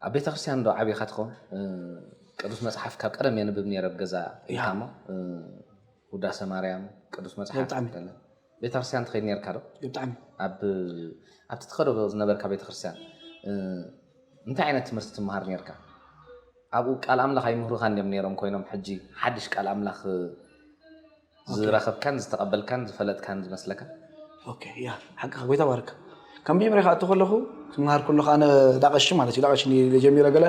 ኣብ ቤተክርስትያን ዶ ዓቢኻ ትኸውን? ቅዱስ መጽሓፍ ካብ ቀደም የንብብ ነይረ ኣብ ገዛ ኢልካ እሞ ውዳሰ ማርያም ቅዱስ መጽሓፍ ቤተክርስትያን ትኸይድ ነርካ ዶ? ብጣዕሚ ኣብቲ ትኸዶ ዝነበርካ ቤተክርስትያን እንታይ ዓይነት ትምህርቲ ትመሃር ነርካ? ኣብኡ ቃል ኣምላኽ ኣይምህሩኻን ድዮም ነይሮም ኮይኖም ሕጂ ሓድሽ ቃል ኣምላኽ ዝረኸብካን ዝተቐበልካን ዝፈለጥካን ዝመስለካ? ኦኬ ያ ሓቅኻ ጎይታ ባርካ ከም መጀመርያ ክኣቱ ከለኹ ክምሃር ከለኹ ኣነ ዳቐሺ ማለት እዩ ዳቐሺ ጀሚረ ገለ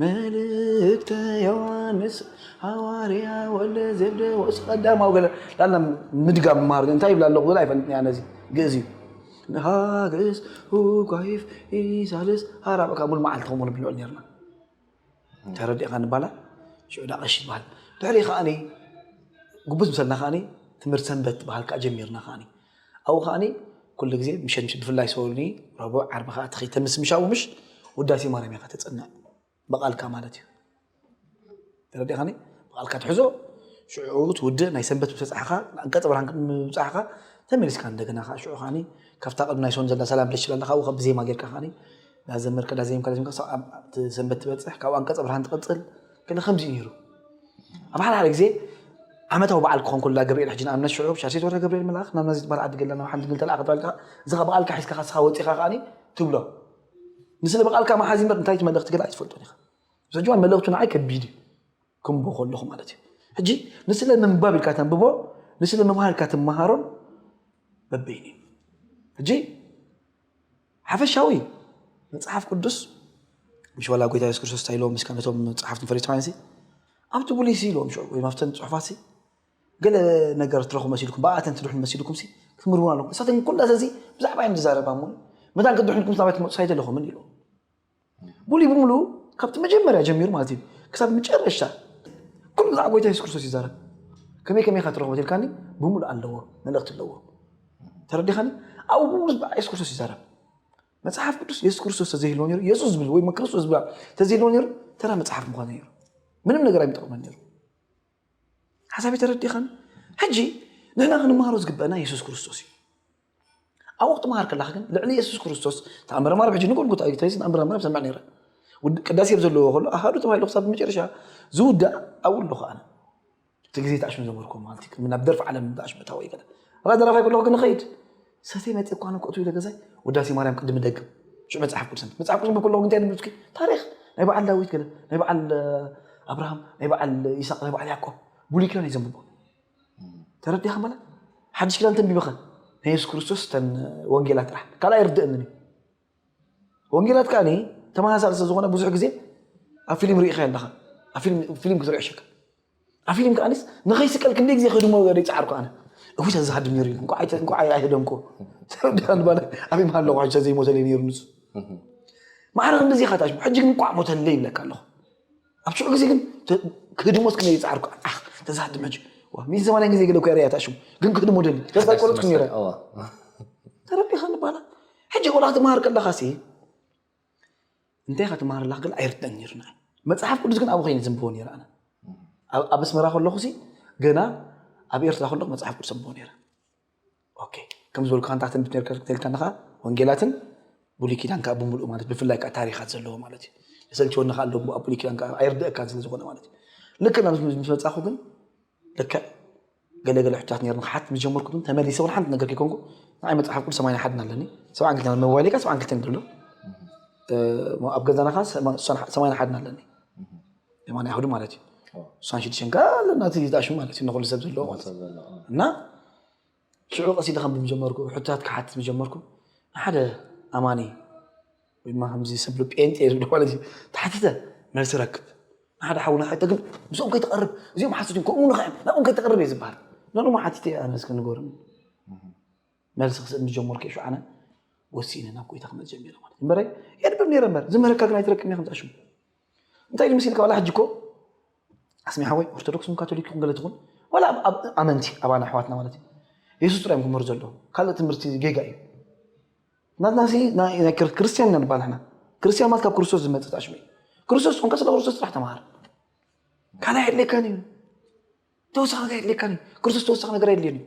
መልእክተ ዮሐንስ ሃዋርያ ወለ ዘብደ ወስ ቀዳማዊ ገለ ላላ ምድጋም ምሃር እንታይ ይብላ ኣለኹ ዝላ ኣይፈልጥኒ ኣነ እዚ ግእዝ እዩ ንሃግእስ ሁጓይፍ ኢሳልስ ሃራብካ ሙሉ መዓልቲ ከምኡ ንብልዑ ነርና ተረዲእኻ ንባላ ሽዑ ዳኣ ቀሺ ትባሃል ድሕሪኡ ከኣኒ ጉብዝ ምሰልና ከኣኒ ትምህርቲ ሰንበት ትባሃል ከኣ ጀሚርና ከኣኒ ኣብኡ ከኣኒ ኩሉ ግዜ ምሸት ምሸት ብፍላይ ሰኒ ረቡዕ ዓርቢ ከኣ ትኸይ ተምስ ምሻኡ ምሽ ውዳሴ ማርያም ኢኻ ተጽንዕ ብቓልካ ማለት እዩ ተረዲእኻኒ ብቓልካ ትሕዞ ሽዑ ትውድእ ናይ ሰንበት ምሰጻሕኻ ኣንቀጽ ብርሃን ምብጻሕኻ ተመሊስካ እንደገና ከዓ ሽዑ ከዓኒ ካብታ ቅድሚ ናይ ሰኒ ዘላ ሰላም ብለሽ ስላለካ ካብኡ ካብ ብዜማ ጌርካ ከዓኒ ዳዘመርካ ዳዜምካ ዳዜምካ ክሳብ ኣብቲ ሰንበት ትበጽሕ ካብኡ ኣንቀጸ ብርሃን ትቕጽል ገለ ከምዚ እዩ ነይሩ ኣብ ሓደ ሓደ ግዜ ዓመታዊ በዓል ክኾን ኮላ ገብርኤል ሕጂ ንኣብነት ሽዑ ሻሴት ወረ ገብርኤል መልኣኽ ናብ ናዚ ዝበሃል ዓዲ ገላ ናብ ሓንቲ ግል ተለኣኸ ተባልካ እዚ ኸ በቓልካ ሒዝካ ካስኻ ወጺኻ ከኣኒ ትብሎ ንስለ በቓልካ መሓዚ እምበር እንታይ መልእኽቲ ገለ ኣይትፈልጦን ኢኻ ምስ ሕጂ እዋን መልእኽቱ ንዓይ ከቢድ እዩ ከምቦ ከለኹ ማለት እዩ ሕጂ ንስለ ምንባብ ኢልካ ተንብቦ ንስለ ምምሃር ኢልካ ትመሃሮን በበይኑ እዩ ሕጂ ሓፈሻዊ መጽሓፍ ቅዱስ ምሽ ዋላ ጎይታ የሱስ ክርስቶስ እንታይ ኢሎም ምስ ነቶም ጸሓፍትን ፈሪሳውያንሲ ኣብቲ ብሉይሲ ኢሎም ወይ ኣብተን ጽሑፋትሲ ገለ ነገር ትረኹ መሲልኩም ብኣተን ትድሕኑ መሲልኩምሲ ክትምርምሩ ኣለኩም እሳተን ኩላ እዚ ብዛዕባ እየን ዝዛረባ እሞ መታን ክትድሕንኩም ናባይ ትመጹ ሳይት ኣለኹምን ኢሎም ሙሉ ብሙሉ ካብቲ መጀመርያ ጀሚሩ ማለት እዩ ክሳብ መጨረሻ ኩሉ ብዛዕባ ጎይታ የሱስ ክርስቶስ ይዛረብ ከመይ ከመይ ካ ትረኽቦ ትልካኒ ብሙሉ ኣለዎ መልእኽቲ ኣለዎ ተረዲኻኒ ኣብኡ ብሙሉ ብዛዕባ የሱስ ክርስቶስ ይዛረብ መጽሓፍ ቅዱስ የሱስ ክርስቶስ ተዘይህልዎ ነሩ የሱስ ዝብል ወይ ክርስቶስ ዝብላ ተዘይህልዎ ነሩ ተራ መጽሓፍ ምኳኑ ነሩ ምንም ነገር ኣይምጠቕመን ነሩ ሓሳብ ተረዲኻኒ ሕጂ ንሕና ክንምሃሮ ዝግበአና የሱስ ክርስቶስ እዩ ኣብ ወቅቲ ምሃር ከለካ ግን ልዕሊ የሱስ ክርስቶስ ተኣምረ ማርያም ሕጂ ንጎልጎታ እዩ ተይስ ተኣምረ ማርያም ሰምዕ ነይረ ቅዳሴ ኣብ ዘለዎ ከሎ ኣሃዱ ተባሂሉ ክሳብ መጨረሻ ዝውዳእ ኣብኡ ኣለኹ ኣነ እቲ ግዜ ተኣሽሙ ዘመርኩ ማለት እዩ ናብ ደርፊ ዓለም ተኣሽሙ ታወ ይገለ ራ ደራፋይ ከለኹ ግን ኸይድ ሰተ መፅ እኳ ንክእቱ ኢለ ገዛይ ውዳሴ ማርያም ቅድሚ ደግም ሽዑ መፅሓፍ ቅዱስ መፅሓፍ ቅዱስ ብከለኹ እንታይ ንብስኪ ታሪክ ናይ በዓል ዳዊት ገለ ናይ በዓል ኣብርሃም ናይ በዓል ይስቅ ናይ በዓል ያዕቆብ ብሉይ ኪዳን እዩ ዘንብቦ ተረዲኻ ማለት ሓድሽ ክዳን ተንቢብኸ ናይ የሱስ ክርስቶስ ተን ወንጌላት ጥራሕ ካልኣ ይርድእንን እዩ ወንጌላት ከዓ ተመሳሳሊ ስለዝኾነ ብዙሕ ግዜ ኣብ ፊልም ርኢኸ ኣለኻ ኣብ ፊልም ክትሪኦ ሸካ ኣብ ፊልም ከዓ ንኸይስቀል ክንደይ ግዜ ከድሞ ይፃዓርኩ ኣነ እውይ ተዝሃድም ነይሩ እንኳዕ ኣይህደምኩ ኣብይ መሃሎ ቋሕሻ ዘይሞተለይ ነይሩ ንሱ ማዕረ ክንዲዚ ኢኻ ታሽ ሕጂ ግን እንኳዕ ሞተለይ ይብለካ ኣለኹ ኣብ ሽዑ ግዜ ግን ክህድሞስ ክንደይ ይጽዓርኩ ዓኽ ተዛድም ሕጂ ሚዚ ሰማንያ ግዜ ገለ እኮ ርኣያታ ሽሙ ግን ክህድሞ ደሊ ተስፋ ቆረጽኩ ነይረ ተረዲኻ ንባላ ሕጂ ቆልዓ ትመሃር ከለኻ ሲ እንታይ ኢኻ ትመሃር ኣለኻ ግን ኣይርድእን ነይሩ ንዓይ መፅሓፍ ቅዱስ ግን ኣብኡ ኮይነ ዘንብቦ ነይረ ኣነ ኣብ ኣስመራ ከለኹ ሲ ገና ኣብ ኤርትራ ከለኹ መፅሓፍ ቅዱስ ኣንብቦ ነይረ ከም ዝበልካ ንታ ትንቢት ነርካ ክትል ከለካ ወንጌላትን ብሉይ ኪዳን ከዓ ብምልኡ ማለት ብፍላይ ከዓ ታሪኻት ዘለዎ ማለት እዩ የሰልቸወኒ ከዓ ኣሎ ኣብ ብሉይ ኪዳን ከዓ ኣይርድአካን ስለ ዝኾነ ማለት እዩ ልክ ናብ ምስ በፃኹ ግን ልክዕ ገለገለ ሕታት ነርኒ ክሓት ምስ ጀመርኩ ግን ተመሊሰ እውን ሓንቲ ነገር ከይኮንኩ ንዓይ መፅሓፍ ቅዱስ ሰማንያ ሓድን ኣለኒ ሰብዓን ክልተ ሞባይል ከዓ ሰብዓን ክልተን ይብሎ ኣብ ገዛና ከዓ ሰማንያ ሓድን ኣለኒ የማን ኣይሁድ ማለት እዩ እሷን ሽዱሽተን ከ ናቲ ዝኣሹ ማለት እዩ ንኩሉ ሰብ ዘለዎ ማለት እዩ እና ሽዑ ቀስ ኢለ ከም ብጀመርኩ ሕታት ክሓትት ብጀመርኩ ሓደ ኣማኒ ወይ ድማ ከምዚ ሰብ ጴንጤ ዝብሎ ማለት እዩ ተሓትተ መልሲ ረክብ ንሓደ ሓውና ሕተ ግን ምስኦም ከይተቐርብ እዚኦም ሓሶት እዮም ከምኡ ንኽዕም ናብኦም ከይተቐርብ እየ ዝበሃል ነኖም ሓቲተ ኣነ እስከ ንገርም መልሲ ክስእን ብጀመርኩ እየ ሽዓነ ወሲነ ናብ ጎይታ ክመፅ ጀሚረ ማለት እምበረ የድብም ነይረ እምበር ዝምህረካ ግን ኣይትረክብን እየ ከምዝኣሽሙ እንታይ ኢሉ መሲልካ ዋላ ሕጂ እኮ ኣስሚ ሓወይ ኦርቶዶክስ ን ካቶሊክ ይኹን ገለ ትኹን ዋላ ኣመንቲ ኣባና ኣሕዋትና ማለት እዩ የሱስ ጥራይ እዮም ክምህሩ ዘለዎም ካልእ ትምህርቲ ጌጋ እዩ ናትና ናይ ክርስትያን ኢና ንባል ሕና ክርስትያን ማለት ካብ ክርስቶስ ዝመፅእ ኣሽሙ እዩ ክርስቶስ ኮንካ ስለ ክርስቶስ ጥራሕ ተምሃር ካልእ ኣየድልየካን እዩ ተወሳኺ ነገር ኣየድልየካን እዩ ክርስቶስ ተወሳኺ ነገር ኣየድልየን እዩ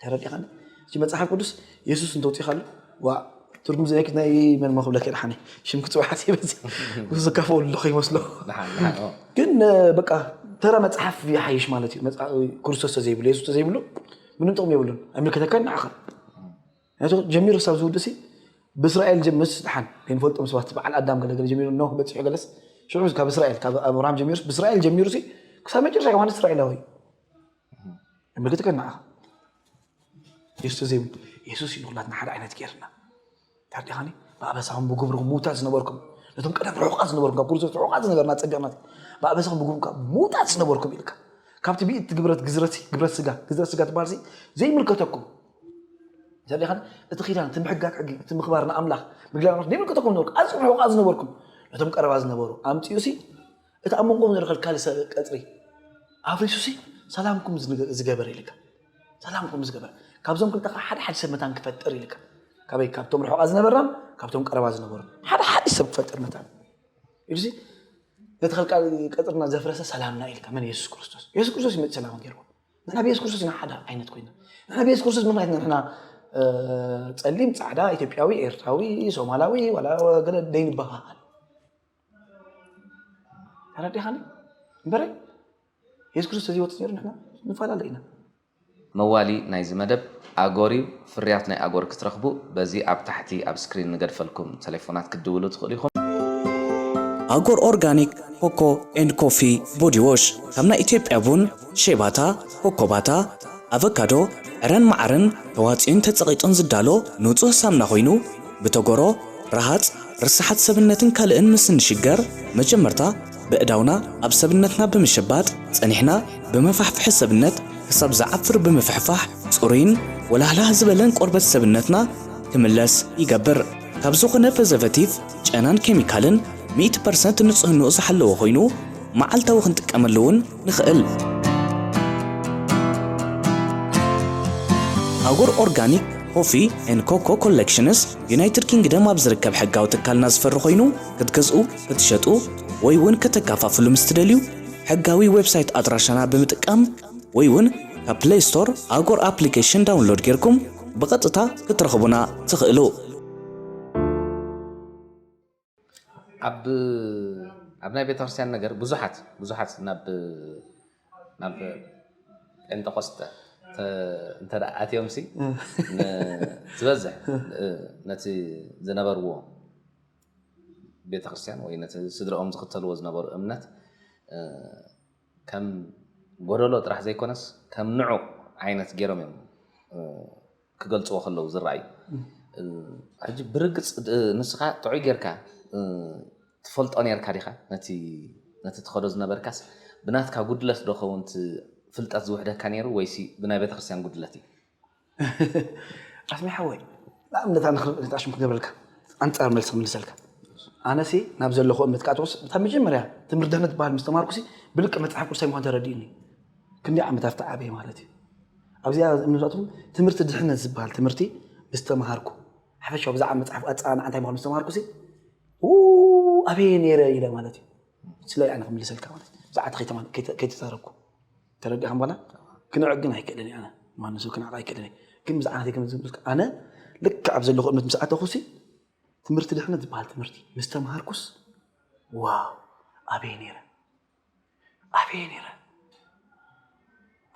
ተረዲእኻኒ? እቲ መጽሓፍ ቅዱስ የሱስ እንተውፂእኻሉ ዋእ ትርጉም ዘይክት ናይ መን መክብለክ የድሓኒ ሽም ክፅውዕ ሓሲበ ዝካፈሉ ኣለኹ ይመስሎ ግን በቃ ተራ መፅሓፍ ይሓይሽ ማለት እዩ ክርስቶስ ተዘይብሉ የሱስ ተዘይብሉ ምንም ጥቕሚ የብሉን ኣይምልከተካን ንዓኻ ምክንያቱ ጀሚሩ ክሳብ ዝውድእሲ ብእስራኤል ምስ ድሓን ከይንፈልጦም ሰባት በዓል ኣዳም ገለገለ ጀሚሩ ኖህ በፂሑ ገለስ ሽዑ ካብ እስራኤል ካብ ኣብርሃም ጀሚሩ ብእስራኤል ጀሚሩ ሲ ክሳብ መጨረሻ ዮሃንስ እስራኤላዊ እዩ ምልክት ከ ንዓኻ የሱስ ዘይብ የሱስ እዩ ንኩላትና ሓደ ዓይነት ገይርና ታዲኻኒ ብኣበሳኹም ብግብርኩም ምውታት ዝነበርኩም ነቶም ቀደም ርሑቃት ዝነበርኩም ካብ ክርስቶስ ርሑቃት ዝነበርና ፀቢቕና ብኣበሳኹም ብግብርኩም ካብ ምውታት ዝነበርኩም ኢልካ ካብቲ ብኢት ግብረት ግዝረት ግብረት ስጋ ግዝረት ስጋ ትበሃል ዘይምልከተኩም ዘሊኻን እቲ ኪዳን እቲ ምሕጋግ ሕጊ እቲ ምኽባር ንኣምላኽ ምግላብ ኣምላኽ ዘይምልከተኩም ነበርኩ ኣዝኹም ሕቑቓት ዝነበርኩም ነቶም ቀረባ ዝነበሩ ኣምፂኡ ሲ እቲ ኣብ መንጎም ዘሎ ከልካሊ ቀፅሪ ኣፍሪሱ ሲ ሰላምኩም ዝገበረ ኢልካ ሰላምኩም ዝገበረ ካብዞም ክልተ ከዓ ሓደ ሓደ ሰብ መታን ክፈጥር ኢልካ ካበይ ካብቶም ርሑቓት ዝነበርናን ካብቶም ቀረባ ዝነበሩ ሓደ ሓደ ሰብ ክፈጥር መታን ኢሉሲ ነቲ ከልካሊ ቀፅርና ዘፍረሰ ሰላምና ኢልካ መን የሱስ ክርስቶስ የሱስ ክርስቶስ ይመፅ ሰላም ገይርዎ ንሕና ብየሱስ ክርስቶስ ኢና ሓደ ዓይነት ኮይና ንሕና ብየሱስ ክርስቶስ ምክንያት ኢና ንሕና ጸሊም ጻዕዳ ኢትዮጵያዊ ኤርትራዊ ሶማላዊ ዋላ ገለ ደይንበሃሃል ተረዲኻኒ እምበረ የሱስ ክርስቶስ ተዘይወፅእ ነይሩ ንሕና ንፈላለ ኢና መዋሊ ናይዚ መደብ ኣጎር እዩ ፍርያት ናይ ኣጎር ክትረኽቡ በዚ ኣብ ታሕቲ ኣብ ስክሪን ንገድፈልኩም ተሌፎናት ክትድውሉ ትኽእሉ ኢኹም። ኣጎር ኦርጋኒክ ኮኮ ኤንድ ኮፊ ቦዲ ዎሽ ካብ ናይ ኢትዮጵያ ቡን፣ ሼባታ፣ ኮኮባታ፣ ኣቨካዶ፣ ዕረን መዓርን ተዋጽዩን ተጸቒጡን ዝዳሎ ንጹህ ሳምና ኮይኑ ብቶጎሮ፣ ረሃጽ፣ ርሰሓት ሰብነትን ካልእን ምስ እንሽገር መጀመርታ በእዳውና ኣብ ሰብነትና ብምሸባጥ ጸኒሕና ብመፋሕፍሒ ሰብነት ክሳብ ዝዓፍር ብምፍሕፋሕ ጽሩይን ወላህላህ ዝበለን ቆርበት ሰብነትና ክምለስ ይገብር። ካብ ዝኾነ ፐዘቨቲቭ፣ ጨናን ኬሚካልን ሚእቲ ፐርሰንት ንጽህንኡ ዝሓለወ ኮይኑ መዓልታዊ ክንጥቀመሉ እውን ንኽእል። ኣጉር ኦርጋኒክ ኮፊ ኤን ኮኮ ኮሌክሽንስ ዩናይትድ ኪንግደም ኣብ ዝርከብ ሕጋዊ ትካልና ዝፈሪ ኮይኑ ክትገዝኡ ክትሸጡ ወይ ውን ከተካፋፍሉ ምስ ትደልዩ ሕጋዊ ዌብሳይት ኣድራሻና ብምጥቃም ወይ ውን ካብ ፕለይ ስቶር ኣጎር ኣፕሊኬሽን ዳውንሎድ ጌርኩም ብቐጥታ ክትረኽቡና ትኽእሉ። ኣብ ኣብ ናይ ቤተክርስትያን ነገር ብዙሓት ብዙሓት ናብ ናብ ጴንጠቆስጠ እንተ ኣትዮም ሲ ዝበዝሕ ነቲ ዝነበርዎ ቤተክርስትያን ወይ ነቲ ስድርኦም ዝኽተልዎ ዝነበሩ እምነት ከም ጎደሎ ጥራሕ ዘይኮነስ ከም ንዑቕ ዓይነት ገይሮም እዮም ክገልፅዎ ከለዉ ዝረኣዩ ሕጂ ብርግፅ ንስኻ ጥዑይ ጌርካ ትፈልጦ ኔርካ ዲኻ ነቲ ነቲ ትኸዶ ዝነበርካስ ብናትካ ጉድለት ዶ ኸውን ፍልጠት ዝውሕደካ ነይሩ ወይሲ ብናይ ቤተክርስትያን ጉድለት እዩ ኣስሜ ሓወይ ንኣብነት ኣነ ክርእ ነጣሽም ክገብረልካ ኣንጻር መልሲ ክምልሰልካ ኣነሲ ናብ ዘለኹ እምነት ካቶስ እታ መጀመርያ ትምህርቲ ድህነት በሃል ምስ ተማርኩሲ ብልቂ መጽሓፍ ቅዱሳይ ምዃን ተረዲኡኒ ክንዲ ዓመታት ተዓበየ ማለት እዩ ኣብዚኣ እምነታትኩም ትምህርቲ ድሕነት ዝበሃል ትምህርቲ ምስ ተምሃርኩ ሓፈሻዊ ብዛዕባ መጽሓፍ ኣጸናንዓ እንታይ ምዃኑ ምስ ተምሃርኩሲ ኣበየ ነይረ ኢለ ማለት እዩ ስለ ኣነ ክምልሰልካ ማለት ብዛዕባ ከይተዛረብኩ ተረዲእካ በላ ክንዕቅ ግን ኣይክእልን እየ ኣነ ማንም ሰብ ክንዕቅ ኣይክእልን እየ ግን ምስ ዓናተይ ከም ዝብልካ ኣነ ልክዕ ኣብ ዘለኹ እምነት ምስ ኣተኹሲ ትምህርቲ ድሕነት ዝበሃል ትምህርቲ ምስ ተምሃርኩስ ዋው ኣበየ ነይረ ኣበየ ነይረ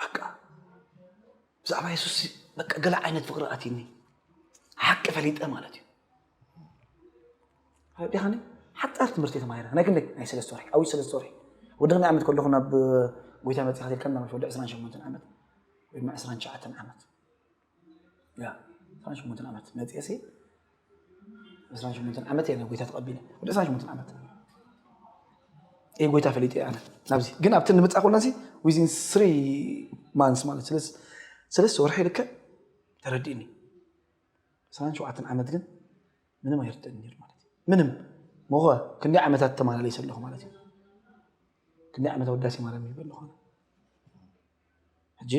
በቃ ብዛዕባ የሱስ በቃ ገለ ዓይነት ፍቅሪ ኣትኒ ሓቂ ፈሊጠ ማለት እዩ ዲኻኒ ሓጻር ትምህርቲ ተማሂረ ናይ ክንደይ ናይ ሰለስተ ወርሒ ዓብይ ሰለስተ ወርሒ ወዲ ክንደይ ዓመት ከለኹ ናብ ጎይታ መጺኻ ትብል ከም ናመሽ ወዲ 28 ዓመት ወይ ድማ 29 ዓመት ያ 28 ዓመት መጺኤ ሲ 28 ዓመት እየ ናብ ጎይታ ተቐቢለ ወዲ 28 ዓመት እየ ጎይታ ፈሊጠ እየ ኣነ ናብዚ ግን ኣብቲ ንምጻእ ኮለንሲ ዊዝን ስሪ ማንስ ማለት ስለስ ሰለስተ ወርሒ ልክዕ ተረዲእኒ 27 ዓመት ግን ምንም ኣይርድእን ነይሩ ማለት እዩ ምንም ሞኸ ክንደይ ዓመታት ተመላለሰ ኣለኹ ማለት እዩ ክንደይ ዓመት ወዳሴ ማርያም ይበል ኣለኹ ሕጂ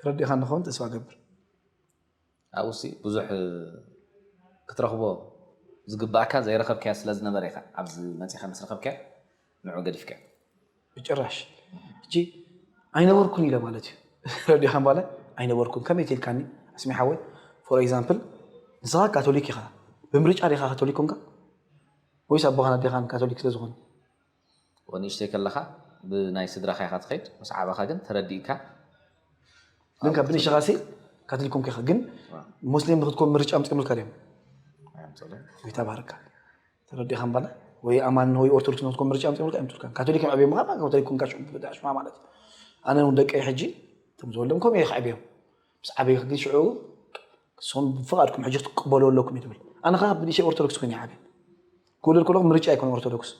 ተረዲእካ ንኸውን ተስፋ ገብር ኣብኡሲ ብዙሕ ክትረኽቦ ዝግባእካ ዘይረኸብካዮ ስለ ዝነበረ ኢኻ ኣብዚ መፂኻ ምስ ረኸብካዮ ንዑ ገዲፍካ። ብጭራሽ ሕጂ ኣይነበርኩን ኢለ ማለት እዩ ረዲኻ ምባለ ኣይነበርኩን ከመይ ትልካኒ ኣስሚ ሓወይ ፎር ኤግዛምፕል ንስኻ ካቶሊክ ኢኻ ብምርጫ ዲኻ ካቶሊክ ኮንካ ወይስ ኣቦኻን ኣዴኻን ካቶሊክ ስለ ዝኾኑ ወንእሽተይ ከለኻ ብናይ ስድራኻ ኢኻ ትኸይድ ምስ ዓበኻ ግን ተረዲእካ ግን ካብ ብንእሽኻ ሲ ካቶሊክ ኮንካ ኢኻ ግን ሙስሊም ንክትኮን ምርጫ ምፅምልካ ድዮም ይተባረካ ተረዲእካ እምበለ ወይ ኣማኒ ወይ ኦርቶዶክስ ናትኩም ምርጫ ኣምፂኦምልካ ኣይምፁልካን ካቶሊክ ምዕብዮ ምዃን ማለት ካቶሊክ ኮንካ ሽዑ ምብዳዕ ሽማ ማለት እዩ ኣነ እውን ደቀይ ሕጂ እቶም ዝወልዶም ከምኡ እየ ከዕብዮም ምስ ዓበዩ ግን ሽዑ ንሶም ብፍቓድኩም ሕጂ ክትቀበሉ ኣለኩም እዩ ትብል ኣነ ከዓ ብንእሽተይ ኦርቶዶክስ ኮይነ ይዓብየ ክውልድ ከለኹ ምርጫ ኣይኮነ ኦርቶዶክስ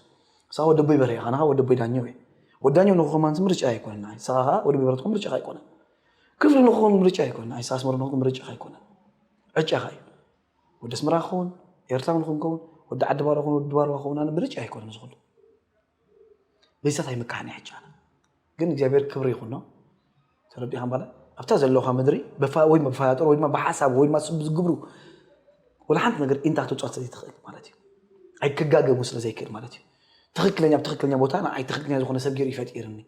ንስኻ ወዲ ኣቦይ በርሄ ኢኻ ንኻ ወዲ ኣቦይ ዳኘው እዩ ወዲ ዳኘው ንኽኸማንስ ምርጫ ኣይኮነን ንዓይ ንስኻ ከዓ ወዲ ኣቦይ በርሄ ትኸውን ምርጫኻ ኣይኮነን ክፍሊ ንኽኸውን ምርጫ ኣይኮነን ንዓይ ንስኻ ኣስመሮም ንኽትከውን ምርጫኻ ኣይኮነን ዕጫኻ እዩ ወዲ ኣስመራ ክኸውን ኤርትራዊ ንክንከውን ወዲ ዓዲ ባሮ ክኸውን ወዲ ድባርዋ ክኸውን ኣነ ምርጫ ኣይኮነን ዝኹሉ በይሰት ኣይምካሕን ሕጂ ኣነ ግን እግዚኣብሔር ክብሪ ይኹኖ ተረዲኻ ባለ ኣብታ ዘለኻ ምድሪ ወይ ብፋያጦር ወይ ድማ ብሓሳብ ወይ ድማ ዝግብሩ ወላ ሓንቲ ነገር ኢንታ ክትውፅዖት ዘይትኽእል ማለት እዩ ኣይክጋገቡ ስለ ዘይክእል ማለት እዩ ትኽክለኛ ብትኽክለኛ ቦታ ንዓይ ትኽክለኛ ዝኾነ ሰብ ገይሩ ይፈጢርኒ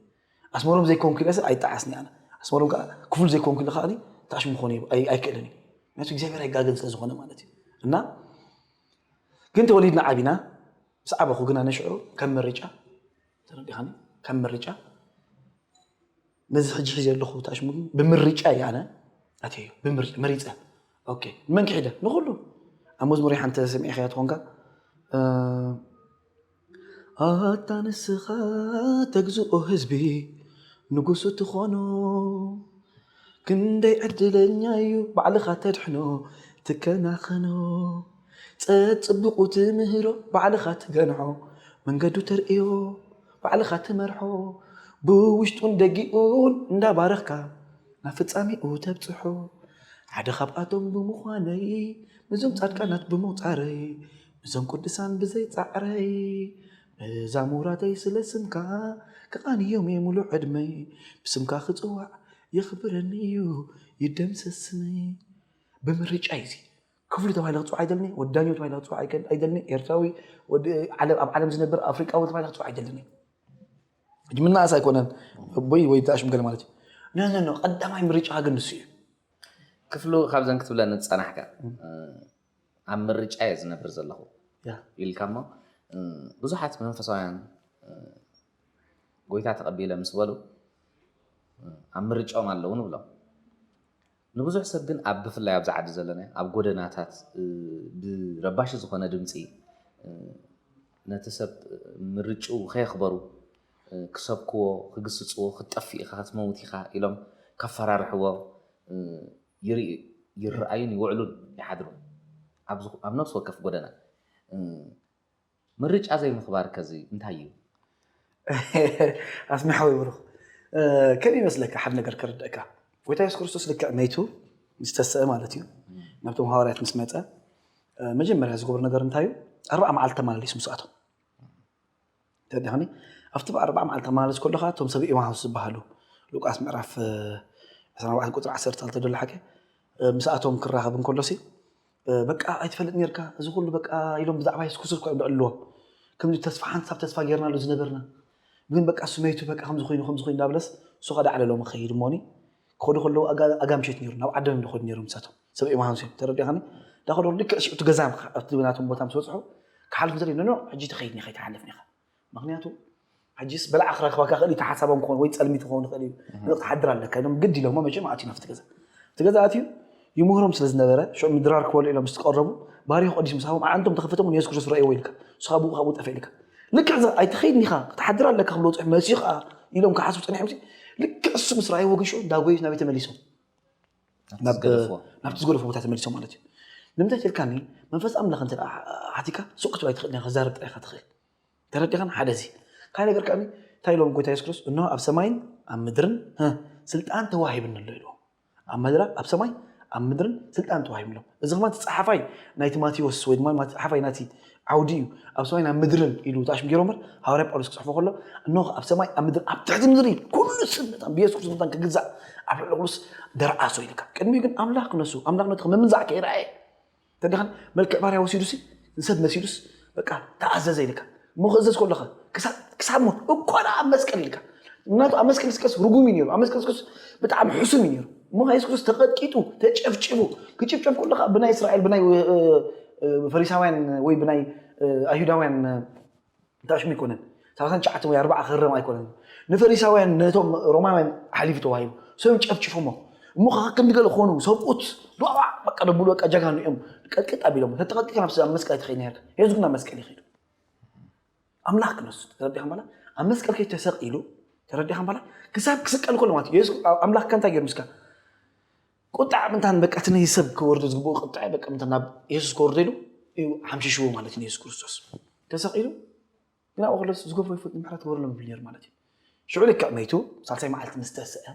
ኣስመሮም ዘይኮንኩ ኢለሰ ኣይጠዓስን ኣነ ኣስመሮም ከዓ ክፍሉ ዘይኮንኩ ኢለ ከዓኒ ተኣሽሙ ክኾን ኣይክእልን እዩ ምክንያቱ እግዚኣብሔር ኣይጋገን ስለዝኾነ ማለት እዩ እና ግን ተወሊድና ዓቢና ምስ ዓበኹ ግና ነሽዑ ከም ምርጫ ተረዲኻኒ ከም ምርጫ ነዚ ሕጂ ሒዘ ኣለኹ ተኣሽሙ ግን ብምርጫ እዩ ኣነ ኣትዮ ብምርጫ መሪፀ ኦኬ ንመን ክሒደ ንኩሉ ኣብ መዝሙር ሓንቲ ሰሚዕኸያ ትኾንካ ኣታ ንስኻ ተግዝኦ ህዝቢ ንጉሱ ትኾኖ ክንደይ ዕድለኛ'ዩ ባዕልኻ ተድሕኖ ትከናኸኖ ጸጽቡቑ ትምህሮ ባዕልኻ ትገንሖ መንገዱ ተርእዮ ባዕልኻ ትመርሖ ብውሽጡን ደጊኡን እንዳባረኽካ ናብ ፍጻሜኡ ተብጽሖ ሓደ ካብኣቶም ብምዃነይ ነዞም ጻድቃናት ብምቑጻረይ እዞም ቅዱሳን ብዘይ ጻዕረይ እዛ ሙራደይ ስለ ስምካ ክቓንዮም'የ ምሉእ ዕድመይ ብስምካ ክጽዋዕ የኽብረኒ'ዩ ይደምሰስ ስመይ ብምርጫይ እዚ ክፍሉ ተባሂለ ክፅዋዕ ኣይደልኒ ወዳኞ ተባሂለ ክፅዋዕ ኣይደልኒ ኤርትራዊ ኣብ ዓለም ዝነብር ኣፍሪቃዊ ተባሂለ ክፅዋዕ ኣይደልኒ ሕጂ ምናእስ ኣይኮነን ኣቦይ ወይ ተኣሽምገለ ማለት እዩ ነነኖ ቀዳማይ ምርጫ ግን ንሱ እዩ ክፍሉ ካብዘን ክትብለን ዝፀናሕካ ኣብ ምርጫ እየ ዝነብር ዘለኹ ኢልካ እሞ ብዙሓት መንፈሳውያን ጎይታ ተቐቢለ ምስ በሉ ኣብ ምርጫኦም ኣለዉ ንብሎም ንብዙሕ ሰብ ግን ኣብ ብፍላይ ኣብዚ ዓዲ ዘለና ኣብ ጎደናታት ብረባሺ ዝኾነ ድምፂ ነቲ ሰብ ምርጭኡ ከየኽበሩ ክሰብክዎ ክግስፅዎ ክትጠፍእ ኢኻ ክትመውት ኢኻ ኢሎም ከፈራርሕዎ ይርኣዩን ይውዕሉን ይሓድሩን ኣብ ነፍሲ ወከፍ ጎደና። ምርጫ ዘይምኽባር ከዚ እንታይ እዩ? ኣስሚ ሓወይ ብሩኽ ከም ይመስለካ ሓደ ነገር ከረድእካ ጎይታ የሱስ ክርስቶስ ልክዕ መይቱ ምስ ተስአ ማለት እዩ ናብቶም ሃዋርያት ምስ መፀ መጀመርያ ዝገብሩ ነገር እንታይ እዩ ኣርባዓ መዓልቲ ተመላለሱ ምስኣቶም ተረዲእካኒ? ኣብቲ ብ ኣርብዓ መዓልቲ ክትመላለስ ከሎኻ እቶም ሰብ ኤማሁስ ዝበሃሉ፣ ሉቃስ ምዕራፍ ዕስራን ኣርባዕተን ቁጽሪ ዓሰርተ ክልተ ዘሎ ሓቂ፣ ምስኣቶም ክራኸብ እንከሎሲ በቃ ኣይትፈልጥ ኔርካ እዚ ኩሉ በቃ ኢሎም ብዛዕባ የሱስ ክስርኩ እዮም ደኣልዎ ከምዚ ተስፋ ሓንሳብ ተስፋ ጌርናሉ ዝነበርና ግን በቃ እሱ መይቱ በቃ ከምዚ ኮይኑ ከምዚ ኮይኑ ዳብለስ እሱ ከዳዕለሎም ክኸይድ እሞኒ ክኸዱ ከለዉ ኣጋ ኣጋምሸት ኔሩ ናብ ዓዶም እዮም ዝኸዱ ኔሮም ንሳቶም ሰብ ኤማሁስ እዮም ተረዲኻኒ ዳኹ ዶር ልክዕ ሽዑ እቲ ገዛ ኣብቲ ናቶም ቦታ ምስ በፅሑ ክሓልፍ ዘርኢ ኖ ሕጂ ተኸይድኒ ከይትሓልፍ ኒኻ ምክንያቱ ሕጂስ በላዓ ክረክበካ ክእል እዩ ሓሳቦም ክኾን ወይ ፀልሚት ክኸውን ይኽእል እዩ ንቕ ትሓድር ኣለካ ኢሎም ግድ ኢሎሞ መቸም ኣትዩ ናብቲ ገዛ እቲ ገዛ ኣትዩ ይምህሮም ስለ ዝነበረ ሽዑ ምድራር ክበሉ ኢሎም ምስ ተቐረቡ ባሪኹ ቅዲስ ምስ ሃቦም ኣዓንቶም ተኸፈቶም ንየሱስ ክርስቶስ ረእይዎ ኢልካ ንስኻ ብኡ ካብኡ ጠፍእ ኢልካ ልክዕ እዛ ኣይትኸይድን ኢኻ ክትሓድር ኣለካ ክብሎ ፅሑፍ መሲኡ ከዓ ኢሎም ክሓስቡ ፀኒሖም ልክዕ እሱ ምስ ረኣይዎ ግን ሽዑ እንዳጎየት ናብ ቤት ተመሊሶም ናብቲ ዝገደፎ ቦታ ተመሊሶ ማለት እዩ ንምንታይ ትልካኒ መንፈስ ኣምላኽ እንተ ሓቲካ ሱቅ ክትብል ኣይትኽእል ዲኻ ክዛረብ ጥራይ ኢኻ ትኽእል ተረዲኻን ሓደ እዚ ካይ ነገር ከኣ እንታይ ኢሎም ጎይታ የሱስ ክርስቶስ እንሆ ኣብ ሰማይን ኣብ ምድርን ስልጣን ተዋሂብኒ ኣሎ ኢልዎ ኣብ መድራ ኣብ ሰማይ ኣብ ምድርን ስልጣን ተዋሂብሎም እዚ ከማ ተጻሓፋይ ናይቲ ማቴዎስ ወይ ድማ ተጻሓፋይ ናቲ ዓውዲ እዩ፣ ኣብ ሰማይን ኣብ ምድርን ኢሉ ጣሽም ገይሩ እምበር፣ ሃዋርያ ጳውሎስ ክጽሕፎ ከሎ፣ እንሆ ኣብ ሰማይ ኣብ ምድርን ኣብ ትሕቲ ምድሪ ኩሉ ስም መታን ብየሱስ ክርስቶስ መታን ክግዛእ ኣብ ልዕሊ ኩሉስ ደርኣሶ ኢልካ። ቅድሚኡ ግን ኣምላኽ ክነሱ ኣምላኽነቱ ከም ምምንዛዕ ከይረኣየ እንተድኣ መልክዕ ባርያ ወሲዱሲ ንሰብ መሲሉስ በቃ ተኣዘዘ ኢልካ እሞ ክእዘዝ ከሎኸ ክሳብ ሞት እኮ ደኣ ኣብ መስቀል ኢልካ ምክንያቱ ኣብ መስቀል ስቀስ ርጉም እዩ ነይሩ ኣብ መስቀል ስቀስ ብጣዕሚ ሕሱም እዩ ነይሩ እሞ የሱስ ክርስቶስ ተቐጥቂጡ ተጨፍጭቡ ክጭፍጨፍ ከለካ ብናይ እስራኤል ብናይ ፈሪሳውያን ወይ ብናይ ኣይሁዳውያን ታሽሙ ኣይኮነን ሰላሳን ትሽዓተን ወይ ኣርባዓ ክረም ኣይኮነን ንፈሪሳውያን ነቶም ሮማውያን ሓሊፉ ተዋሂቡ ሰብም ጨፍጭፎሞ እሞ ከዓ ክንዲ ገለ ኮኑ ሰብኡት ዶዋ በቃ ደብሉ በቃ ጀጋኑ እዮም ቀጥቅጥ ኣቢሎም ተተቐጥቂካ ናብ መስቀል ኣይትኸይድ ነርካ የሱስ ግን ናብ መስቀል ይኸይዱ ኣምላኽ ክንሱ ተረዲኻ በላ ኣብ መስቀል ከይ ተሰቂሉ ተረዲኻ በላ ክሳብ ክስቀል ከሎ ማለት የሱስ ኣምላኽ ከ እንታይ ገይሩ ምስካ ቁጣዕ ምንታን በቃ እቲ ነዚ ሰብ ክወርዶ ዝግብኦ ቁጣዕ በቃ ምንታ ናብ የሱስ ክወርዶ ኢሉ እዩ ሓምሽሽዎ ማለት ንየሱስ ክርስቶስ ተሰቂሉ ግን ኣብኡ ከሎስ ዝገበሮ ይፈልጥ ምሕረት ክበረሎም ይብል ነይሩ ማለት እዩ ሽዑ ልክዕ መይቱ ሳልሳይ መዓልቲ ምስ ተስአ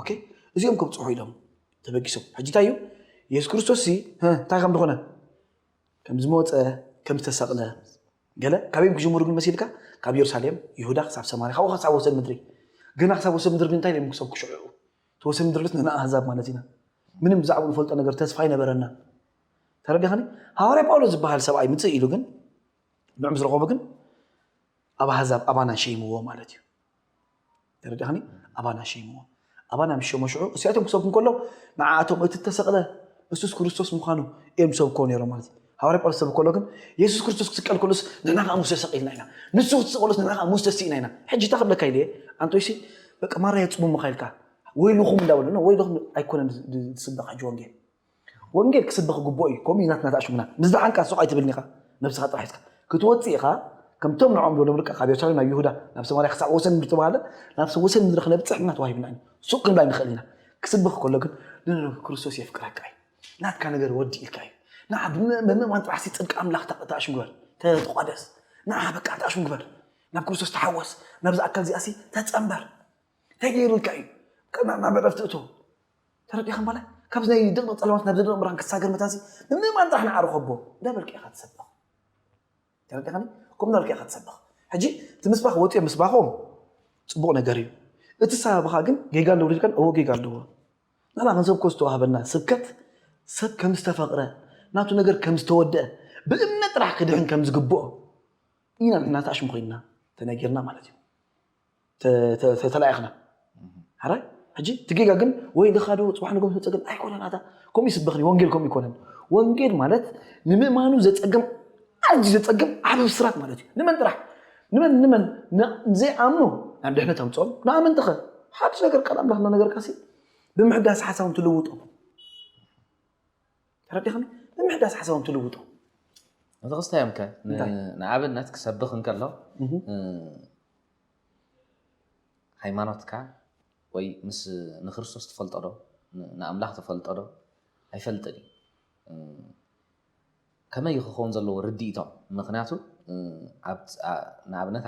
ኦኬ እዚኦም ከብፅሑ ኢሎም ተበጊሶም ሕጂ እንታይ እዩ የሱስ ክርስቶስ ሲ እንታይ ከም ዝኾነ ከም ዝመወፀ ከም ዝተሰቕለ ገለ ካበዮም ክጅምሩ ግን መሲልካ ካብ የሩሳሌም ይሁዳ ክሳብ ሰማርያ ካብኡ ክሳብ ወሰን ምድሪ ግና ክሳብ ወሰን ምድሪ ግን እንታይ ኢሎም ክሰብ ክሽዕኡ እቲ ወሰን ምድሪ ልስ ንኣህዛብ ማለት ኢና ምንም ብዛዕባ ንፈልጦ ነገር ተስፋ ይነበረና ተረዳኸኒ ሃዋርያ ጳውሎስ ዝበሃል ሰብኣይ ምፅእ ኢሉ ግን ንዑ ምስ ረኸቡ ግን ኣብ ኣህዛብ ኣባና ሸይምዎ ማለት እዩ ተረዲእኻኒ ኣባና ሸይምዎ ኣባና ምስ ሸሞ ሽዑ እሲኣቶም ክሰብኩ እንከሎ ንዓኣቶም እቲ እተሰቕለ እሱስ ክርስቶስ ምዃኑ እዮም ሰብኮ ነይሮም ማለት እዩ ሃዋርያ ጳውሎስ ሰብ ከሎ ግን የሱስ ክርስቶስ ክስቀል ከሎስ ንሕና ከዓ ሙሴ ሰቂልና ኢና ንሱ ክትስቀሎስ ንሕና ከዓ ሙሴ ስኢና ኢና ሕጂ እታ ክብለካ ኢለ ኣንቶይሲ በቃ ማራ የፅሙምኻ ኢልካ ወይልኹም እንዳበሉ ወይልኹም ኣይኮነን ዝስበኽ ሕጂ ወንጌል ወንጌል ክስበኽ ይግብኦ እዩ ከምኡ እዩ ናትና ተኣሽሙና ምስ ደሓንካ ሱቕ ኣይትብልን ኢኻ ነብስኻ ጥራሕ ሒዝካ ክትወጽእ ኢኻ ከምቶም ንዖም ዝበሎም ደቂ ካብ የሩሳሌም ናብ ይሁዳ ናብ ሰማርያ ክሳዕ ወሰን ምድሪ ተባሃለ ናብ ወሰን ምድሪ ክነብጽሕ ምና ተዋሂብና እዩ ሱቕ ክንብል ኣይንኽእል ኢና ክስበኽ ከሎ ግን ንክርስቶስ የፍቅረካ እዩ ናትካ ነገር ወዲ ኢልካ እዩ ንዓ ብምእማን ጥራሕ ሲ ጽድቂ ኣምላኽ ተኣሽሙ ግበር ተቋደስ ንዓ በቃ ተኣሽሙ ግበር ናብ ክርስቶስ ተሓወስ ናብዚ ኣካል እዚኣ ሲ ተጸንበር እንታይ ገይሩ ኢልካ እዩ ናብ ዕረፍቲ እቶ ተረዲእካ ማለት ካብዚ ናይ ድቕድቕ ጸልማት ናብ ዝደርቕ ብርሃን ክሳገር መታንሲ ንምእማን ጥራሕ ንዓሩ ከቦ እንዳበልካ ኢኻ ትሰብኽ ተረዲእካኒ ከምኡ እንዳበልካ ኢኻ ትሰብኽ ሕጂ እቲ ምስባኽ ወፂኦም ምስባኾም ፅቡቕ ነገር እዩ እቲ ሳብኻ ግን ጌጋ ኣለዎ ልልካን እዎ ጌጋ ኣለዎ ንሕና ክንሰብኮ ዝተዋህበና ስብከት ሰብ ከም ዝተፈቕረ ናቱ ነገር ከም ዝተወደአ ብእምነት ጥራሕ ክድሕን ከም ዝግብኦ ኢና ንሕና ተኣሽሙ ኮይንና ተነጊርና ማለት እዩ ተተተተላኢኽና ሓራይ ሕጂ እቲ ጌጋ ግን ወይ ልኻዶ ጽባሕ ንጎም ተጸገም ኣይኮነን ኣታ ከምኡ ይስበኽኒ ወንጌል ከምኡ ይኮነን ወንጌል ማለት ንምእማኑ ዘጸገም ኣዝዩ ዘጸገም ዓቢ ብስራት ማለት እዩ ንመን ጥራሕ ንመን ንመን ዘይኣምኑ ናብ ድሕነት ኣምጽኦም ንኣመንቲ ኸ ሓድሽ ነገር ቃል ኣምላኽ እናነገርካሲ ብምሕዳስ ሓሳቦም ትልውጦም ተረዲኽኒ ምምሕዳስ ሓሳቦም ትልውጡ ነዚ ክስታዮም ከ ንኣብነት ክሰብኽ እንከሎ ሃይማኖትካ ወይ ምስ ንክርስቶስ ትፈልጦ ዶ ንኣምላኽ ትፈልጦ ዶ ኣይፈልጥን እዩ ከመይ ክኸውን ዘለዎ ርድኢቶም ምክንያቱ ንኣብነት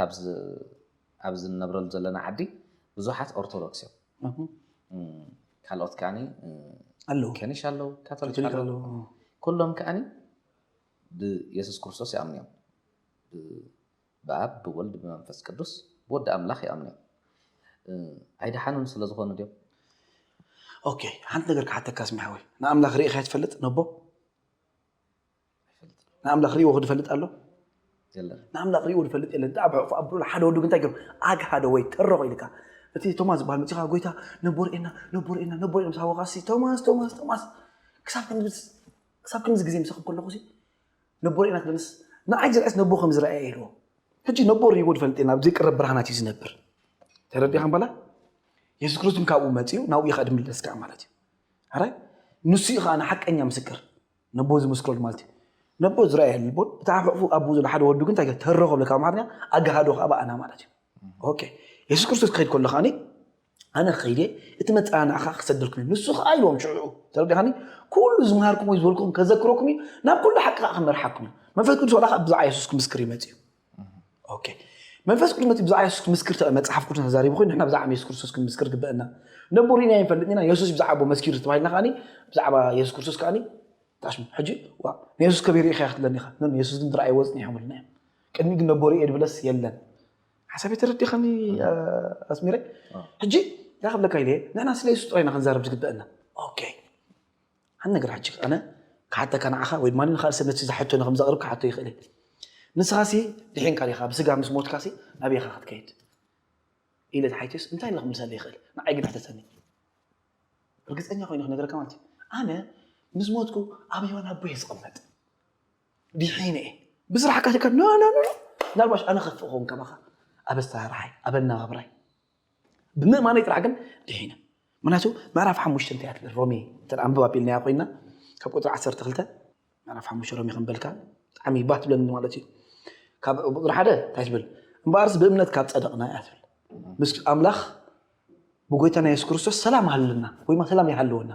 ኣብዚ እንነብረሉ ዘለና ዓዲ ብዙሓት ኦርቶዶክስ እዮም ካልኦት ከኣ ከኒሻ ኣለው ካቶሊክ ኣለው ኩሎም ከኣ ብየሱስ ክርስቶስ ይኣምኑ እዮም ብኣብ ብወልድ ብመንፈስ ቅዱስ ብወዲ ኣምላኽ ይኣምኑ እዮም ኣይደሓኑን ስለዝኾኑ ድዮም ኦኬ ሓንቲ ነገር ክሓተካ ስሚሓወይ ንኣምላኽ ርኢኻዮ ትፈልጥ ነቦ ንኣምላኽ ርእይዎ ክድፈልጥ ኣሎ ንኣምላኽ ርእይዎ ድፈልጥ የለን ኣብ ሕቕፉ ኣብሩሉ ሓደ ወዱ ግንታይ ገሩ ኣግሃደ ወይ ተረኾ ኢልካ እቲ ቶማስ ዝበሃል መፅኻ ጎይታ ነቦርኤና ነቦርኤና ነቦርኤና ምስ ሃወኻሲ ቶማስ ቶማስ ቶማስ ክሳብ ክሳብ ክንዚ ግዜ ምሳኹም ከለኹ ሲ ነቦርኤና ክደንስ ንዓይ ዝርዕስ ነቦ ከም ዝረኣየ ኢልዎ ሕጂ ነቦ ርእይዎ ድፈልጥ የለን ኣብ ዘይቅረብ ብርሃናት እዩ ዝነብር ተረዲኻ በላ የሱስ ክርስቶስ ካብኡ መፅኡ ናብኡ ይኸድ ምለስ ከዓ ማለት እዩ ኣራይ ንሱ እዩ ከዓ ንሓቀኛ ምስክር ነቦ ዝምስክረሉ ማለት እዩ ነቦ ዝረኣየ ልቦን እቲ ኣብ ሕቑፉ ኣቦ ዘሎ ሓደ ወዱ ግን እንታይ ገለ ተረኸ ብለ ካብ ኣማርኛ ኣጋሃዶ ከዓ በኣና ማለት እዩ ኦኬ የሱስ ክርስቶስ ክኸይድ ከሎ ከዓኒ ኣነ ከይደ እቲ መፀናናዕኻ ክሰደልኩም እዩ ንሱ ከዓ ኢልዎም ሽዑ ተረዳኻኒ ኩሉ ዝምሃርኩም ወይ ዝበልኩም ከዘክረኩም እዩ ናብ ኩሉ ሓቂ ከዓ ክመርሓኩም እዩ መንፈስ ቅዱስ ዋላ ከዓ ብዛዕባ የሱስ ክምስክር ይመፅ እዩ ኦኬ መንፈስ ቅዱስ መፅኡ ብዛዕባ የሱስ ክምስክር ተቐ መፅሓፍ ቅዱስ ተዛሪቡ ኮይኑ ንሕና ብዛዕባ የሱስ ክርስቶስ ክንምስክር ግበአና ነቦ ሪእና ይንፈልጥ ኢና የሱስ ብዛዕባ ኣቦ መስኪሩ ተባሂልና ከዓኒ ብዛዕባ የሱስ ክርስቶስ ከዓኒ ታሽሙ ሕጂ ዋ ንየሱስ ከቢር ኢኻ ክትብለኒ ኢኻ ኖ ንየሱስ ግን ዝረኣይዎ ፅኒሖም ኢልና እዮም ቅድሚ ግን ነቦ ሪእየ ድብለስ የለን ሓሳበይ ተረዲኻኒ ኣስሚረ ሕጂ እንታይ ክብለካ ኢለ ንሕና ስለ የሱስ ጥራይ ኢና ክንዛረብ ዝግበአና ኦኬ ሓደ ነገር ሕጂ ኣነ ክሓተካ ንዓኻ ወይ ድማ ንኻልእ ሰብ ነቲ ዝሓቶ ንከም ዘቕርብ ክሓቶ ይኽእል እየ ንስኻሲ ድሒንካ ዲኻ ብስጋ ምስ ሞትካሲ ናበይ ኢኻ ክትከይድ ኢለ ተሓይትዮስ እንታይ ኢለ ክምልሰለ ይኽእል ንዓይ ግን ሕተተኒ ርግፀኛ ኮይኑ ክነገረካ ማለት እዩ ኣነ ምስ ሞትኩ ኣብ ሂወን ኣቦየ ዝቕመጥ ዲሒነ እየ ብስራሕካ ሸካ ኖ ኖ ኖ ናልባሽ ኣነ ከፍእ ኸውን ከማኻ ኣብ ኣሰራርሓይ ኣብ ኣነባብራይ ብምእማነይ ጥራሕ ግን ድሒነ ምክንያቱ ምዕራፍ ሓሙሽተ እንታይ ትብል ሮሜ እንተ ኣንብብ ኣቢልናያ ኮይና ካብ ቁፅሪ ዓሰርተ ክልተ ምዕራፍ ሓሙሽተ ሮሜ ክንበልካ ብጣዕሚ ባህ ትብለኒ ማለት እዩ ካብ ቁፅሪ ሓደ እንታይ ትብል እምበኣርስ ብእምነት ካብ ፀደቕና እያ ትብል ምስ ኣምላኽ ብጎይታና የሱስ ክርስቶስ ሰላም ሃለና ወይ ሰላም ይሃለወና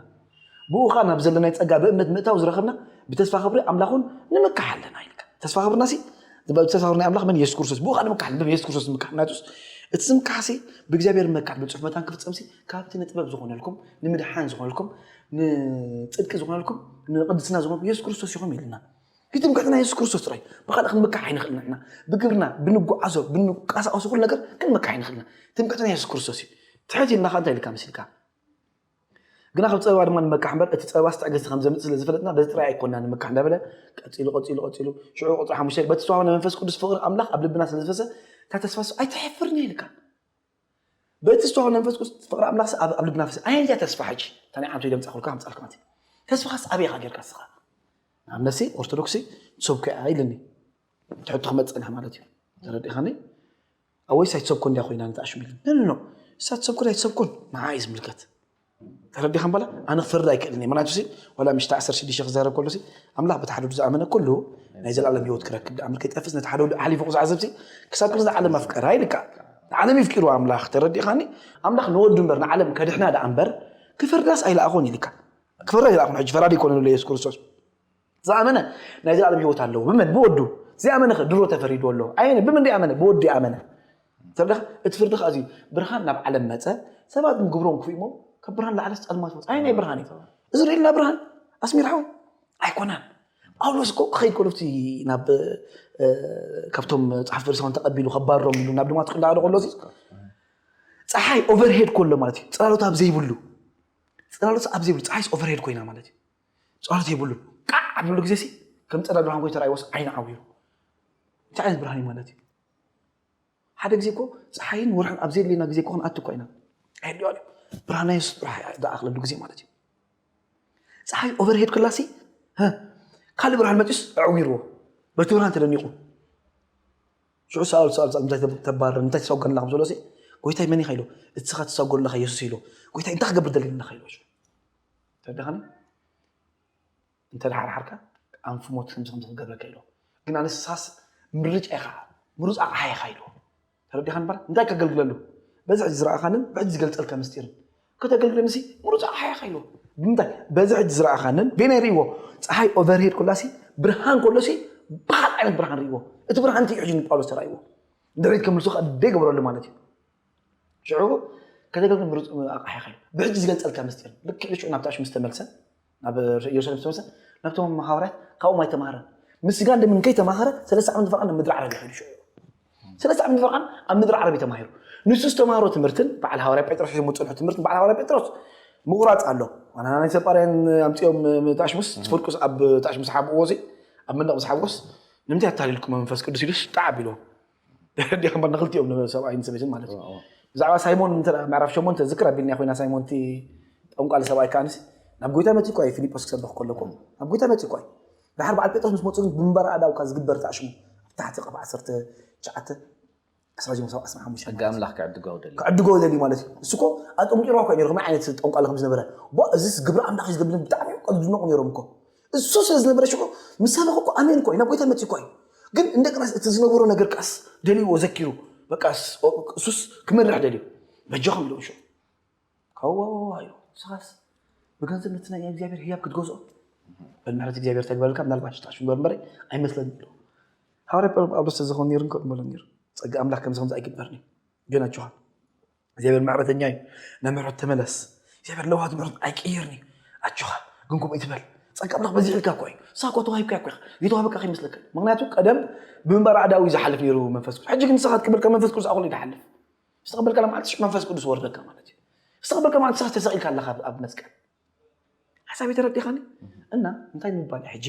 ብእኡ ኸኣ ናብ ዘለናዮ ጸጋ ብእምነት ምእታው ዝረኸብና ብተስፋ ኽብሪ ኣምላኽውን ንምካሕ ኣለና ኢልካ ተስፋ ኽብርናሲ ተስፋ ኽብሪ ናይ ኣምላኽ መን የሱስ ክርስቶስ ብኡ ኸኣ ንምካሕ ኣለና የሱስ ክርስቶስ ንምካሕ ምክንያቱስ እቲ ዝምካሕሲ ብእግዚኣብሔር ምካሕ ብጽሑፍ መታን ክፍጸምሲ ካብቲ ንጥበብ ዝኾነልኩም ንምድሓን ዝኾነልኩም ንጽድቂ ዝኾነልኩም ንቅድስና ዝኾነልኩም የሱስ ክርስቶስ ይኹም ኢልና እዩ ትምክሕትና የሱስ ክርስቶስ ጥራይ ብኻልእ ክንምካሕ ኣይንኽእልና ኢና ብግብርና ብንጓዓዞ ብንቀሳቀሱ ኩሉ ነገር ክንምካሕ ኣይንኽእልና ትምክሕትና የሱስ ክርስቶስ እዩ ትሕት ኢልና ከ እንታይ ኢልካ መሲልካ ግና ካብ ጸበባ ድማ ንመካሕ እምበር እቲ ጸበባስ ትዕግስቲ ከም ዘምጽእ ስለ ዝፈለጥና በዚ ጥራይ ኣይኮናን ንምካሕ እንዳበለ ቀጺሉ ቀጺሉ ቀጺሉ ሽዑ ቁጽሪ ሓሙሽተ በቲ ዝተዋህበ ናይ መንፈስ ቅዱስ ፍቕሪ ኣምላኽ ኣብ ልብና ስለ ዝፈሰ እታ ተስፋስ ኣይትሐፍርን እያ ኢልካ በቲ ዝተዋህበ ናይ መንፈስ ቅዱስ ፍቕሪ ኣምላኽ ኣብ ኣብ ልብና ፈሰ ኣየን እያ ተስፋ ሕጂ እታ ናይ ዓመት ደምጻኹልካ ከምጻልካ ማለት ተስፋኻስ ኣበይ ኢኻ ጌርካ ስኻ ኣብ ነሲ ኦርቶዶክስ ትሰብከ ኢልኒ ትሕቶ ክመጽእ ማለት እዩ ተረዲኻኒ ኣወይስ ኣይትሰብኮን ድያ ኮይና ነቲ ኣሽሚል ነንኖ እሳ ትሰብኮን ኣይትሰብኮን ንዓ እዩ ዝምልከት ተረዲኻ በላ ኣነ ክፈርድ ኣይክእልን እየ ምክንያቱ ዋላ ምሽታ ዓሰርተ ሽዱሽተ ክዛረብ ከሎ ኣምላኽ በቲ ሓደ ወዱ ዝኣመነ ከሎ ናይ ዘላለም ሂወት ክረክብ ድኣ ምልከ ይጠፍስ ነቲ ሓደ ወዱ ኣሕሊፉ ክዝዓዘብሲ ክሳብ ክንዚ ዓለም ኣፍቀራ ይልካ ንዓለም ይፍቂሩ ኣምላኽ ተረዲኻኒ ኣምላኽ ንወዱ እምበር ንዓለም ከድሕና ድኣ እምበር ክፈርዳስ ኣይለኣኾን ይልካ ክፈርዳ ኣይለኣኹን ሕጂ ፈራዲ ኮነ ዘሎ የሱስ ክርስቶስ ዝኣመነ ናይ ዘላለም ህይወት ኣለዎ ብመን ብወዱ ዝኣመነ ከ ድሮ ተፈሪድዎ ኣሎ ኣየነ ብምንደይ ኣመነ ብወዲ ኣመነ ተብለካ እቲ ፍርዲ ከዓ እዚ ብርሃን ናብ ዓለም መፀ ሰባት ግን ግብሮም ክፉእ እሞ ካብ ብርሃን ላዕለስ ፀልማት ወፅ ኣየናይ ብርሃን እዩ እዚ ርእልና ብርሃን ኣስሚራ ሆይ ኣይኮነን ጳውሎስ እኮ ክኸይድ ከሎ እቲ ናብ እ፣ ካብቶም ፃሕቲ ፈሪሳውያን ተቐቢሉ ከባሮም ኢሉ ናብ ድማት እንዳኸደ ከሎ እዚ ፀሓይ ኦቨርሄድ ኮሎ ማለት እዩ ፅላሎት ኣብ ዘይብሉ ፅላሎት ኣብ ዘይብሉ ፀሓይስ ኦቨርሄድ ኮይና ማለት እዩ ጸሎት የብሉን ቃዕ ኣብሉ ግዜ ሲ ከም ፀዳ ብርሃን ኮይኑ ተራእይዎስ ዓይኒ ዓዊሩ እንታይ ዓይነት ብርሃን እዩ ማለት እዩ ሓደ ግዜ እኮ ፀሓይን ወርሕን ኣብ ዘየድልየና ግዜ እኮ ክንኣቱ እኳ ኢና ኣየድልዮ ኣሎ ብርሃናዮ ዝኣኽለሉ ግዜ ማለት እዩ ፀሓይ ኦቨርሄድ ክላሲ ካልእ ብርሃን መፅስ ኣዕዊርዎ በቲ ብርሃን ተደኒቑ ሽዑ ሰኣል ሰኣል ሰኣል እንታይ ተባርር እንታይ ተሰጎንላ ከም ዘሎ ጎይታይ መን ኢኻ ኢሎ እትስኻ ተሰጎንላኻ የሱስ ኢሎ ጎይታይ እንታይ ክገብር ደሊና ኢኻ ኢሎ ተደኸኒ እንተደሓርሓርካ ኣንፉ ሞት ከምዚ ከምዚ ክገብረካ ኢሎ ግን ኣነ ሳስ ምርጫ ኢኻ ምሩፅ ኣቕሓ ኢኻ ኢሎ ተረዲኻ ንበር እንታይ ከገልግለሉ በዚ ሕጂ ዝረኣኻንን ብሕጂ ዝገልፀልካ ምስጢርን ከተገልግለኒ ሲ ምሩፅ ኣቕሓ ኢኻ ኢሎ ብምንታይ በዚ ሕጂ ዝረኣኻንን ቤናይ ርእዎ ፀሓይ ኦቨርሄድ ኮላ ሲ ብርሃን ኮሎ ሲ ብካልእ ዓይነት ብርሃን ርእዎ እቲ ብርሃን እቲ ሕጂ ንጳውሎስ ተራእይዎ ንድሕሪት ከምልሱ ከኣ ደይ ገበረሉ ማለት እዩ ሽዑ ከተገልግል ምሩፅ ኣቕሓ ይኸል ብሕጂ ዝገልጸልካ ምስጢር ልክዕ ሽዑ ናብቲ ኣሽሙ ዝተመልሰ ናብ ኢየሩሳሌም ዝተመልሰ ናብቶም መሃውርያት ካብኦም ኣይተማሃረን ምስጋ እንደ ምንከይ ተማሃረ ሰለስተ ዓመት ፈርዓን ምድሪ ዓረብ ይኸዱ ሽዑ ሰለስተ ዓመት ፈርዓን ኣብ ምድሪ ዓረብ ተማሂሩ ንሱ ዝተማሃሮ ትምህርትን በዓል ሃዋርያ ጴጥሮስ ሒዞም ዝፅንሑ ትምህርትን በዓል ሃዋርያ ጴጥሮስ ምቑራፅ ኣሎ ዋና ናይ ሰጳርያን ኣምፅኦም ተኣሽሙስ ትፍርቁስ ኣብ ተኣሽሙስ ሓብእዎ እዚ ኣብ መንደቕ ምስ ሓብሮስ ንምንታይ ኣታሊልኩም መንፈስ ቅዱስ ኢሉስ ጣዕ ኣቢልዎም ደሓር ከምበር ንክልቲኦም ሰብኣይን ሰበይትን ማለት እዩ ብዛዕባ ሳይሞን ምዕራፍ ሸሞንተ ዝክር ኣቢልና ኮይና ሳይሞን እቲ ጠንቋሊ ሰብኣይ ከዓንስ ናብ ጎይታ መፅኡ እኳ እዩ ፊልጶስ ክሰብኽ ከለኩ ናብ ጎይታ መፅኡ እኳ እዩ ድሓር በዓል ጴጥሮስ ምስ መፁ ግን ብንበር ኣእዳውካ ዝግበር ተኣሽሙ ኣብ ታሕቲ ቀፍ ዓሰርተ ትሽዓተ ክሳብ ዚኦም ሰብዓ ስራ ሓሙሽተ ሕጊ ኣምላኽ ክዕድገው ደልዩ ክዕድገው ደልዩ ማለት እዩ እሱ እኮ ኣጠንቂርዋ እኳ ነይሩ ከመይ ዓይነት ጠንቋሊ ከም ዝነበረ እዚስ ግብሪ ኣምላኽ እዩ ዝገብር ብጣዕሚ እዮም ዝድነቑ ነይሮም እኮ እሱ ስለ ዝነበረ ሽዑ ምስ ሰበኸ እኮ ኣሜን እኮ እዩ ናብ ጎይታ መጺኡ እኮ እዩ ግን እንደገናስ እቲ ዝነበሮ ነገር ከኣስ ደልዎ ዘኪሩ በቃስ እሱስ ክመርሕ ደልዩ በጃኹም ኢሎም ሽዑ ካዋዋዋ ኢሉ ንስኻስ ብገንዘብ ነቲ ናይ እግዚኣብሔር ህያብ ክትገዝኦ በል ምሕረት እግዚኣብሔር ተግበረልካ ምናልባት ሽጣሽ ግበር እምበረ ኣይመስለኒ ኢሉ ሃዋርያ ጳውሎስ ተዝኸውን ነይሩ እንከ በሎ ነይሩ ጸጋ ኣምላኽ ከምዚ ከምዚ ኣይግበርን እዩ ግን ኣጆኻ እግዚኣብሔር ምሕረተኛ እዩ ናብ ምሕረት ተመለስ እግዚኣብሔር ለዋሃት ምሕረት ኣይቅይርን እዩ ኣጆኻ ግን ከምኡ ይትበል ፀጋ ኣምላኽ በዚሕ ኢልካ እኮ እዩ ሳኮ ተዋሂብካ እኮ ኢኻ የተዋበቃ ከይመስለካ ምክንያቱ ቀደም ብምንባር ኣዕዳዊ እዩ ዝሓልፍ ነይሩ መንፈስ ቅዱስ ሕጂ ግን ንስኻ ትቅበልካ መንፈስ ቅዱስ ኣኩሉ ይትሓልፍ ዝተቀበልካ ማለት ሽዑ መንፈስ ቅዱስ ወርደካ ማለት እዩ ዝተቀበልካ ማለት ንስኻ ተሰቂልካ ኣለካ ኣብ- ኣብ መስቀል ሓሳብ የተረዲኻኒ እና እንታይ ምባል እዩ ሕጂ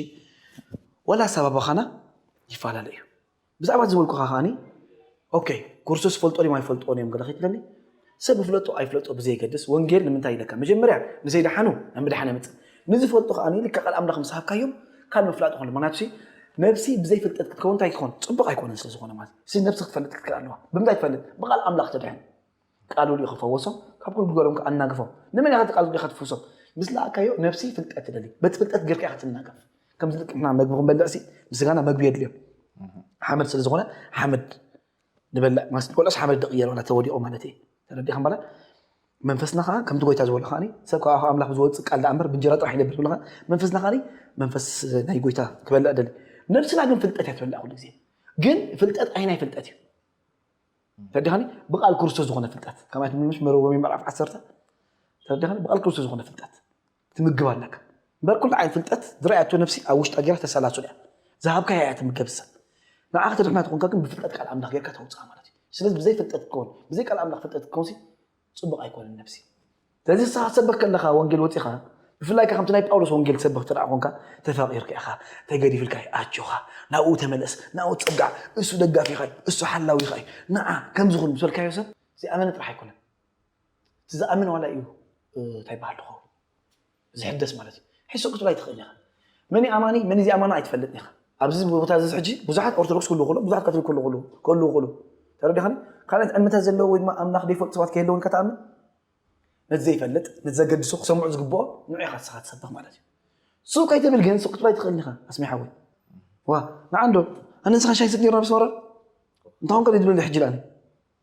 ወላ ኣሰባባኻና ይፈላለ እዩ ብዛዕባ እቲ ዝበልኩኻ ከኣ ኦኬ ኩርሱስ ይፈልጦ ድዮም ኣይፈልጥዎን እዮም ገለ ከይትብለኒ ሰብ ይፍለጦ ኣይፍለጦ ብዘየገድስ ወንጌል ንምንታይ ኢለካ መጀመርያ ንዘይደሓኑ ናብ ምድሓን የምጽእ ንዝፈልጡ ከኣ ልክዕ ቃል ኣምላኽ ምስ ሃብካዮም ካብ ምፍላጥ ይኾን ምክንያቱ ነብሲ ብዘይ ፍልጠት ክትከውን እንታይ ክኾን ጽቡቕ ኣይኮነን ስለ ዝኾነ ማለት ነብሲ ክትፈልጥ ክትክእል ኣለዋ ብምንታይ ትፈልጥ ብቓል ኣምላኽ ትድሕን ቃሉል እዩ ክፈወሶም ካብ ኩሉ ግበሮም ከ ኣናግፎም ንመን ኢካ ቃሉል ኢካ ትፍውሶም ምስ ለኣካዮ ነብሲ ፍልጠት ትደሊ በቲ ፍልጠት ጌርካ ኢካ ትናገፍ ከምዚ ልክዕ ንሕና መግቢ ክንበልዕ ሲ ንስጋና መግቢ የድልዮ ሓመድ ስለ ዝኮነ ሓመድ ንበልዕ ማለት ንበልዖስ ሓመድ ድቅየሮ ናተ ወዲቆ ማለት እዩ ተረዲካ ማለት መንፈስና ከዓ ከምቲ ጎይታ ዝበሎ ከዓ ሰብ ካብ ኣምላኽ ዝወፅእ ቃል ዳኣ እምበር ብእንጀራ ጥራሕ ይነብር ዝብሎ መንፈስና ከዓ መንፈስ ናይ ጎይታ ክበልዕ ደሊ ነብስና ግን ፍልጠት እያ ትበልዕ ኩሉ ግዜ ግን ፍልጠት ኣይናይ ፍልጠት እዩ ተረዲኻኒ ብቃል ክርስቶስ ዝኾነ ፍልጠት ከማይ ትምልምሽ መረ ሮሜ ምዕራፍ ዓሰርተ ተረዲኻኒ ብቃል ክርስቶስ ዝኾነ ፍልጠት ትምግብ ኣለካ እምበር ኩሉ ዓይነት ፍልጠት ዝረኣያቶ ነፍሲ ኣብ ውሽጣ ጌራ ተሰላሱል እያ ዝሃብካ እያ ትምገብ ሰብ ንዓኻ ተድሕና ትኾንካ ግን ብፍልጠት ቃል ኣምላኽ ጌርካ ተውፅኣ ማለት እዩ ስለዚ ብዘይ ፍልጠት ክትከውን ብዘይ ቃል ኣምላኽ ፍልጠት ክትከውንሲ ጽቡቕ ኣይኮነን ነብሲ። ስለዚ ንስኻ ክትሰብኽ ከለኻ ወንጌል ወጺኻ ብፍላይ ከምቲ ናይ ጳውሎስ ወንጌል ትሰብኽ እንተ ኮንካ ተፋቒርካ ኢኻ ተገዲፍልካ እዩ ኣጆኻ ናብኡ ተመለስ ናብኡ ትጸጋዕ እሱ ደጋፊኻ እዩ እሱ ሓላዊኻ እዩ ንዓ ከምዚ ኹን ምስ በልካዮ ሰብ ዘይኣመነ ጥራሕ ኣይኮነን እቲ ዝኣምን ዋላ እዩ እንታይ በሃል ድኸውን ዝሕደስ ማለት እዩ ሕሱእ ክትብል ኣይትኽእል ኢኻ መን እዩ ኣማኒ መን እዚ ኣማኒ ኣይትፈልጥን ኢኻ ኣብዚ ቦታ እዚ ሕጂ ብዙሓት ኦርቶዶክስ ክህልው ከሎ ብዙሓት ቀትሪ ክህልው ከለዉ ክህልው ከለዉ ተረዲኻኒ ካልኦት እምነታት ዘለዎ ወይ ድማ ኣምላኽ ዘይፈልጡ ሰባት ከየለውን ኢልካ ትኣምን ነቲ ዘይፈልጥ ነቲ ዘገድሶ ክሰምዑ ዝግብኦ ንዑ ኢኻ ንስኻ ትሰብኽ ማለት እዩ ሱቅ ከይትብል ግን ሱቅ ክትብላ ኣይትኽእልን ኢኻ ኣስሜ ሓወይ ዋ ንዓንዶ ኣነ ንስኻ ሻይ ስቅ ነርና ብስመራ እንታኹም ከ ድብል ሕጂ ላኒ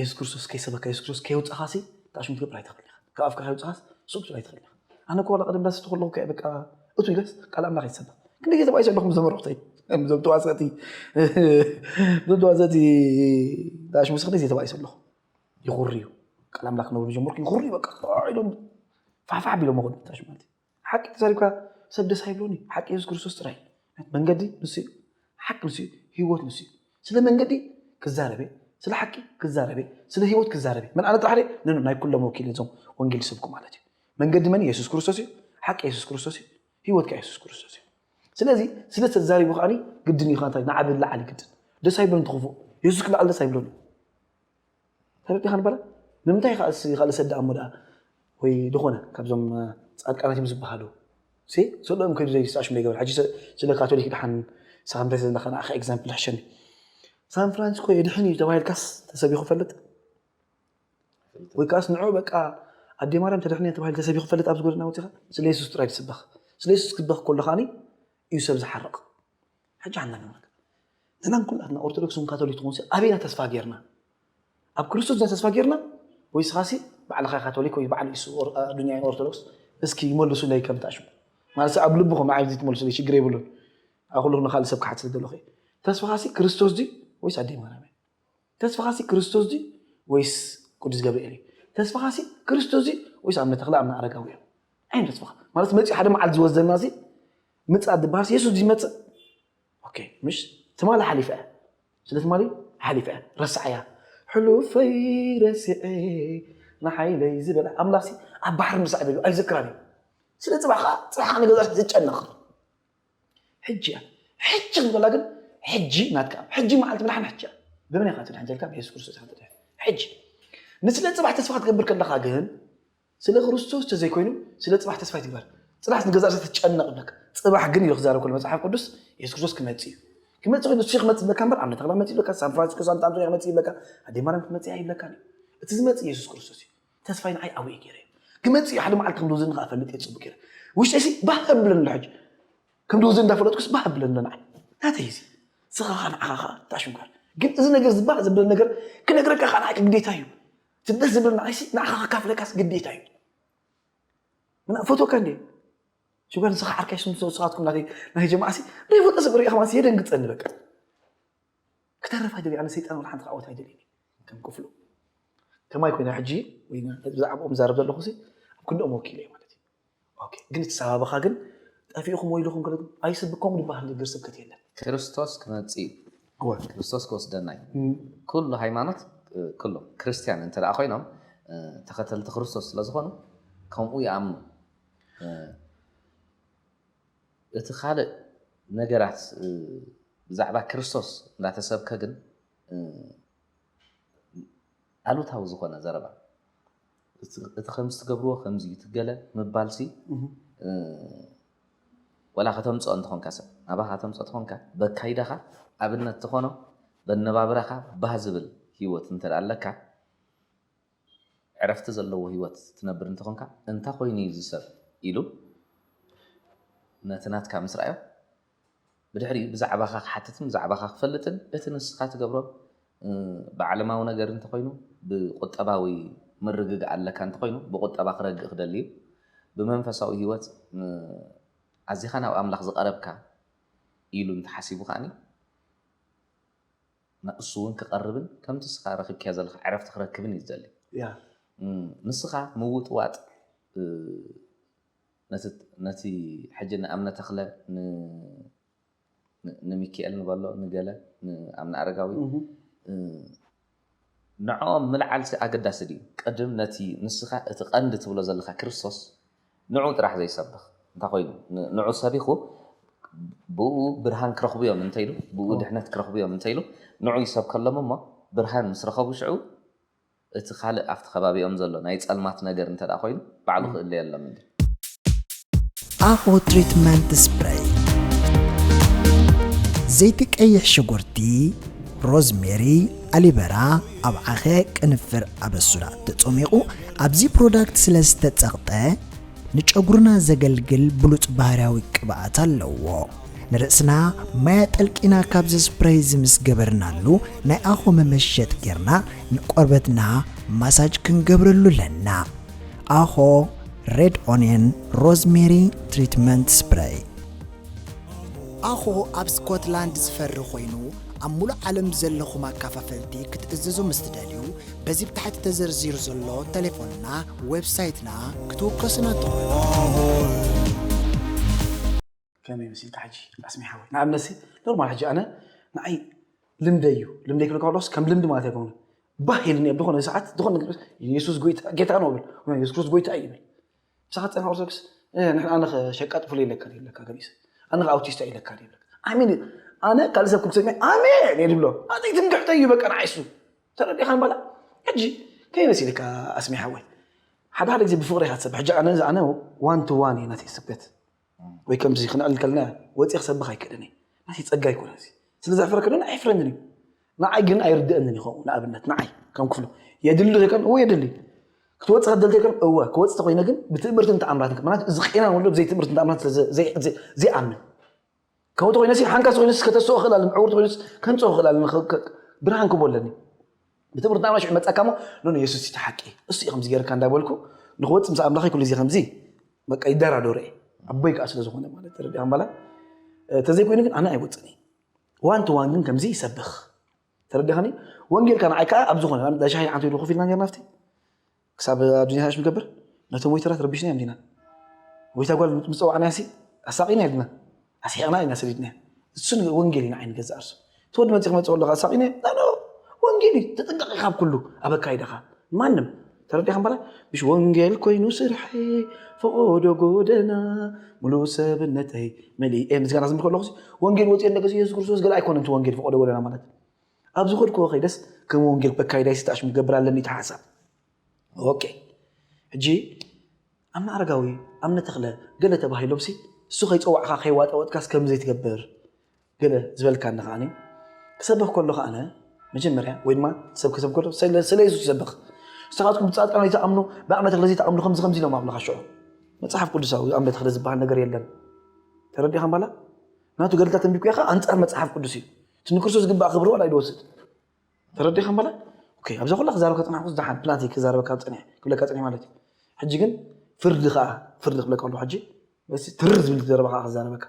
የሱስ ክርስቶስ ከይሰበካ የሱስ ክርስቶስ ከየውፃኻ ሲ ክዓ ሽሙ ክትገብር ኣይትኽእል ኢኻ ካብ ኣፍካ ከይውፅኻስ ሱቅ ክትብል ኣይትኽእል ኢኻ ኣነ እኮ ዋላ ቀደም ዳስ ተኸለኹ ከ በቃ እቱ ኢለስ ቃል ኣምላኽ ይሰበኽ ክንደይ ግዜ ተባይሰ ኣለኹ ዘመርኹተይ እዞም ተዋሰእቲ እዞም ተዋሰእቲ ዳሽ ምስ ክንደይ ግዜ ተባይሰ ኣለኹ ይኹርዩ ቃል ኣምላኽ ክነብሩ ጀመርኩ ይኹርዩ በቃ ኢሎም ፋሕፋሕ ቢሎም መኾኑ ዳሽ ማለት እዩ ሓቂ ተዛሪብካ ሰብ ደስ ኣይብሎን እዩ ሓቂ የሱስ ክርስቶስ ጥራይ መንገዲ ንሱ እዩ ሓቂ ንሱ እዩ ህይወት ንሱ እዩ ስለ መንገዲ ክዛረበ ስለ ሓቂ ክዛረበ ስለ ህይወት ክዛረበ መን ኣነ ጥራሕ ነኑ ናይ ኩሎም ወኪል እዞም ወንጌል ዝሰብኩ ማለት እዩ መንገዲ መን የሱስ ክርስቶስ እዩ ሓቂ የሱስ ክርስቶስ እዩ ህይወት ከ የሱስ ክርስቶስ እዩ ስለዚ ስለ ተዛሪቡ ከዓኒ ግድን እዩ ንዓብ ልዓሊ ግድን ደስ ኣይብሎን ትኽፉእ የሱስ ክልዓል ደስ ኣይብሎን እዩ ተረዲኻ ንበረ ንምንታይ ይካል ሰዲ ኣሞ ደኣ ወይ ዝኾነ ካብዞም ፃድቃናት እዮም ዝበሃሉ ሰሎኦም ከይዱ ዘይስኣሽም ዘይገበር ሕጂ ስለ ካቶሊክ ድሓን ንስኻ እንታይ ዘለካ ንዓኻ ኤግዛምፕል ሕሸኒ ሳን ፍራንሲስኮ የድሕን እዩ ተባሂልካስ ተሰቢኹ ፈልጥ ወይ ከዓስ ንዑ በቃ ኣዴ ማርያም ተድሕን እያ ተባሂሉ ተሰቢኹ ፈልጥ ኣብዚ ጎደና ወፂኻ ስለ የሱስ ጥራይ ትስበኽ ስለ የሱስ ክትበኽ ከሎ ከዓኒ እዩ ሰብ ዝሓርቕ ሕጂ ሓንዳ ንብለካ ንሕና ኩላትና ኦርቶዶክስ ውን ካቶሊክ ትኹንሲ ኣበይ ኢና ተስፋ ጌርና ኣብ ክርስቶስ ድና ተስፋ ጌርና ወይ ስኻሲ ባዕልኻ ካቶሊክ ወይ ባዕል ኢሱ ኣዱንያ ኦርቶዶክስ እስኪ ይመልሱለይ ከምታ ሽሙ ማለት ኣብ ልብኹም ንዓይ እዚ ትመልሱለይ ሽግር የብሉን ኣብ ኩሉ ንኻልእ ሰብ ክሓት ስለ ዘለኹ ተስፋኻሲ ክርስቶስ ድዩ ወይስ ኣደይ ማርያም እያ ተስፋኻሲ ክርስቶስ ድዩ ወይስ ቅዱስ ገብርኤል እዩ? ተስፋኻሲ ክርስቶስ ድዩ ወይስ ኣብነ ተኽለ ኣብነ ኣረጋዊ እዮም? ኣይ ተስፋኻ ማለት መፅኡ ሓደ መዓልቲ ዝወስደና ሲ ምፅኣት ዝበሃልሲ የሱስ ድዩ ዝመፅእ? ኦኬ ምሽ ትማሊ ሓሊፈ እያ ስለ ትማሊ ሓሊፈ እያ ረስዓያ ሕሉፈይ ረስዐ ንሓይለይ ዝበለ ኣምላኽሲ ኣብ ባሕሪ ምሳዕ ደሉ ኣይዝክራን እዩ ስለ ፅባሕ ከዓ ፅባሕ ከዓ ንገዛእ ዝጨነቕ ሕጂ እያ ሕጂ ክትብላ ግን ሕጂ ናትካ ሕጂ መዓልቲ ምድሓን ሕጂ እያ ብመን ኢኻ ትድሕን ዘልካ ብየሱስ ክርስቶስ ኢኻ ትድሕን ሕጂ ንስለ ጽባሕ ተስፋ ክትገብር ከለኻ ግን ስለ ክርስቶስ ተዘይኮይኑ ስለ ጽባሕ ተስፋ ይትግበር ጽናሕ ንገዛ ርእሰ ትጨነቕ ብለካ ጽባሕ ግን ኢሉ ክዛረብ ከሎ መጽሓፍ ቅዱስ የሱስ ክርስቶስ ክመጽእ እዩ ክመጽእ ኮይኑ ንሱ ክመጽእ ብለካ እምበር ኣብነ ተኽላ መጽእ ይብለካ ሳን ፍራንሲስኮ ሳንታ ኣንቶኒያ ክመጽእ ይብለካ ኣዴ ማርያም ክትመጽእ ይብለካ እቲ ዝመጽእ የሱስ ክርስቶስ እዩ ተስፋይ ንዓይ ዓብኡ ገይረ እዩ ክመፅእ እዩ ሓደ መዓልቲ ከም ድወዘኒ ከዓ እፈልጥ እየ ፅቡቅ ገይረ ውሽጠይሲ ባህ ኣብለኒ ኣሎ ሕጂ ከም ድወዘኒ እንዳፈለጥኩስ ባህ ኣብለኒ ኣሎ ንዓይ ናተይ እዚ ስኻ ከዓ ንዓኻ ከዓ ታሽንኳር ግን እዚ ነገር እዚ ባህ ዘብለኒ ነገር ክነግረካ ከዓ ንዓይ ግዴታ እዩ እቲ ደስ ዝብለኒ ንዓይሲ ንዓኻ ከካፍለካስ ግዴታ እዩ ምና ፈትወካ እንዴ ሽጓር ንስኻ ዓርካይ ስም ሰውስኻትኩም ናተይ ናይ ጀማዓሲ ዘይፈልጦ ሰብ ሪእኻ ማለት የደንግፀኒ በቃ ክተርፍ ኣይደልይ ኣነ ሰይጣን ወላ ሓንቲ ክዓወት ኣይደልይን ከም ክፍሉ ከማይ ኮይና ሕጂ ወይ ብዛዕባኦም ዛረብ ዘለኹ ሲ ኣብ ክንድኦም ወኪለ እየ ማለት እዩ ግን እቲ ሳባብኻ ግን ጠፊእኹም ወይ ኢልኹም ኣይስብኮም ዝበሃል ንግር ስብከት የለን ክርስቶስ ክመጽእ እዩ ክርስቶስ ክወስደና እዩ ኩሉ ሃይማኖት ኩሎም ክርስትያን እንተ ደኣ ኮይኖም ተኸተልቲ ክርስቶስ ስለ ዝኾኑ ከምኡ ይኣምኑ እቲ ካልእ ነገራት ብዛዕባ ክርስቶስ እንዳተሰብከ ግን ኣሉታዊ ዝኾነ ዘረባ እቲ ከምዚ ትገብርዎ ከምዚ እዩ ትገለ ምባልሲ ወላ ከተምፅኦ እንተኾንካ ሰብ ናባኻ ከተምፆ ተኾንካ በካይዳኻ ኣብነት ተኾኖ በነባብራኻ ባህ ዝብል ሂወት እንተ ኣለካ ዕረፍቲ ዘለዎ ህይወት ትነብር እንተ ዀንካ፣ እንታይ ዀይኑ እዩ እዚ ሰብ? ኢሉ ነቲ ናትካ ምስ ረኣዮ፣ ብድሕሪኡ ብዛዕባኻ ኪሓትትን ብዛዕባኻ ኪፈልጥን፣ እቲ ንስኻ ትገብሮ ብዓለማዊ ነገር እንተ ዀይኑ፣ ብቍጠባዊ ምርግጋእ ኣለካ እንተ ዀይኑ፣ ብቝጠባ ኺረግእ ኺደሊ እዩ። ብመንፈሳዊ ህይወት ኣዚኻ ናብ ኣምላኽ ዝቐረብካ ኢሉ እንተ ሓሲቡ ኸኣኒ፣ ንሱውን ክቐርብን ከምቲ እስኻ ረኺብካዮ ዘለኻ ዕረፍቲ ክረክብን እዩ ዝደሊ። ንስኻ ምውጥዋጥ ነቲ ሕጂ ንኣብነ ተኽለ ንሚኪኤል ንበሎ ንገለ ንኣብነ ኣረጋዊ ንዕኦም ምልዓልሲ ኣገዳሲ ድዩ? ቅድም ነቲ ንስኻ እቲ ቀንዲ ትብሎ ዘለኻ ክርስቶስ ንዑ ጥራሕ ዘይሰብኽ እንታይ ኮይኑ ንዑ ሰቢኹ ብእኡ ብርሃን ክረኽቡ እዮም እንተኢሉ ብእኡ ድሕነት ክረኽቡ እዮም እንተኢሉ ንዑ ይሰብከሎም እሞ ብርሃን ምስ ረኸቡ ሽዑ እቲ ካልእ ኣብቲ ከባቢኦም ዘሎ ናይ ጸልማት ነገር እንተ ኮይኑ ባዕሉ ክእለየሎም እንዲ። ኣኮ ትሪትመንት ስፕረይ ዘይቲ ቀይሕ ሽጉርቲ ሮዝሜሪ ኣሊበራ ኣብ ዓኸ ቅንፍር ኣበሱራ ተጸሚቑ ኣብዚ ፕሮዳክት ስለ ዝተጸቕጠ ንጨጉርና ዘገልግል ብሉጽ ባህርያዊ ቅብኣት ኣለዎ። ንርእስና ማይ ኣጠልቂና ካብዚ ስፕረይ እዚ ምስ ገበርናሉ ናይ ኣኾ መመሸጥ ጌርና ንቆርበትና ማሳጅ ክንገብረሉ ኣለና። ኣኾ ሬድ ኦንየን ሮዝሜሪ ትሪትመንት ስፕረይ ኣኾ ኣብ ስኮትላንድ ዝፈሪ ኮይኑ ኣብ ሙሉእ ዓለም ዘለኹም ኣካፋፈልቲ ክትእዝዙ ምስ ትደልዩ በዚ ብ ታሕቲ ተዘርዚሩ ዘሎ ተሌፎንና፣ ዌብሳይትና፣ ክትውከሱና ትኽእሉ። ከመይ መሲልካ ሕጂ ኣስሜ ሓወይ ንኣብነት ኖርማል ሕጂ ኣነ ንዓይ ልምደይ እዩ ልምደይ ክብል ከሎስ ከም ልምዲ ማለት ኣይኮነን ባህ ኢልኒ ብኾነ ሰዓት ዝኾነ የሱስ ጎይታ ጌታ ነው ብል የሱስ ክርስቶስ ጎይታ እዩ ብል ምሳኻ ትፀንሕ ኦርቶዶክስ ንሕና ኣነ ሸቃጥ ፍሉይ ኢለካ ኢለካ ገሊሰ ኣነ ኣውቲስታ ኢለካ ኢለካ ኣሜን ኣነ ካልእ ሰብ ክሰሚ ኣሜን እየ ዝብሎ ኣዘይ ትምክሕተይ እዩ በቃ ንዓይሱ ተረዲኻ ንባላ ሕጂ ከይመሲልካ ኣስሚሓወይ ሓደ ሓደ ግዜ ብፍቕሪ ኢኻ ትሰብሕ ሕጂ ኣነ ኣነ ዋን ቱ ዋን እዩ ናተይ ስብከት ወይ ከምዚ ክንዕል ከለና ወጺ ክሰብኽ ኣይክእልን እየ ናተይ ጸጋ ኣይኮነን እዚ ስለ ዘሕፍረካ ዶ ኣየሕፍረንን እዩ ንዓይ ግን ኣይርድእንን እዩ ከምኡ ንኣብነት ንዓይ ከም ክፍሉ የድሊ ዶ ይከን እወ የድሊ ክትወጽእ ከደልቲ ይከን እወ ክወጽእ ተኮይነ ግን ብትእምርትን ተኣምራትን ምክንያቱ እዚ ቄናን ወልዶ ብዘይ ትእምርትን ተኣምራትን ስለ ዘይኣምን ከውቲ ኮይነሲ ሓንካስ ኮይነስ ከተስኦ ክእል ኣለኒ ዕውርቲ ኮይነስ ከንጾ ክእል ኣለኒ ብርሃን ክቦ ኣለኒ ብትምህርቲ ናብና ሽዑ መጻካ ሞ ኖ የሱስ እቲ ሓቂ እሱ እዩ ከምዚ ገርካ እንዳበልኩ ንክወፅ ምስ ኣምላኸይ ኩሉ ግዜ ከምዚ በቃ ይደራደረ እየ ኣቦይ ከዓ ስለ ዝኾነ ማለት ተረዲኣ ባላ ተዘይኮይኑ ግን ኣነ ኣይወፅን እዩ ዋን ቱ ዋን ግን ከምዚ ይሰብኽ ተረዲኻኒ ወንጌልካ ንዓይ ከዓ ኣብ ዝኾነ ሻሂ ሓንቲ ኢሉ ኮፍ ኢልና ነርና ኣብቲ ክሳብ ኣዱንያ ሃሽ ንገብር ነቶም ወይተራት ረቢሽናዮም ዲና ወይታ ጓል ምጸዋዕናያሲ ኣሳቂናያ ዲና ኣስሒቅናያ ኢና ሰዲድናያ እሱ ወንጌል እዩ ንዓይ ንገዛእ ርሱ እቲ ወዲ መጺ ክመጽኦ ኣለካ ኣሳቂናዮ ናኖ ወንጌል እዩ ተጠንቀቂ ካብ ኩሉ ኣብ ኣካይዳካ ማንም ተረዲኻ በላይ ምሽ ወንጌል ኮይኑ ስርሐይ ፈቆዶ ጎደና ሙሉ ሰብነተይ መሊኤ ምስጋና ዝምልከ ኣለኹ ወንጌል ወፂኦ ነገ የሱስ ክርስቶስ ገለ ኣይኮነን እቲ ወንጌል ፈቆዶ ጎደና ማለት ኣብ ዝኸድክዎ ከይደስ ከም ወንጌል በካይዳይ ስታሽ ምገብር ኣለኒ እቲ ሓሳብ ኦኬ ሕጂ ኣምነ ኣረጋዊ ኣምነ ተኽለ ገለ ተባሂሎምሲ እሱ ከይፀዋዕካ ከይዋጠወጥካስ ከምዘይ ትገብር ገለ ዝበልካኒ ከዓኒ ክሰብኽ ከሎ ከዓነ መጀመርያ ወይ ድማ ሰብ ክሰብ ከሎ ስለ የሱስ ይሰብኽ ንስኻትኩም ብፃድቃን ዘይተኣምኑ ብኣምነ ተኽለ ዘይተኣምኑ ከምዚ ከምዚ ኢሎም ኣብልኻ ሽዑ መፅሓፍ ቅዱሳዊ ኣምነ ተኽለ ዝበሃል ነገር የለን ተረዲኻ ባላ ናቱ ገድልታት እንቢኩ ያኻ ኣንፃር መፅሓፍ ቅዱስ እዩ እቲ ንክርስቶስ ዝግባእ ክብሪ ዋላ ይድወስድ ተረዲኻ በለ ኣብዛ ኩላ ክዛረብ ከፅናሕኩ ዝደሓን ፕላንቲ ክዛረበካ ፀኒሐ ክብለካ ፀኒሐ ማለት እዩ ሕጂ ግን ፍርዲ ከዓ ፍርዲ ክብለካ ኣለኩ ሕጂ በዚ ትር ዝብል ዘረባ ከዓ ክዛረበካ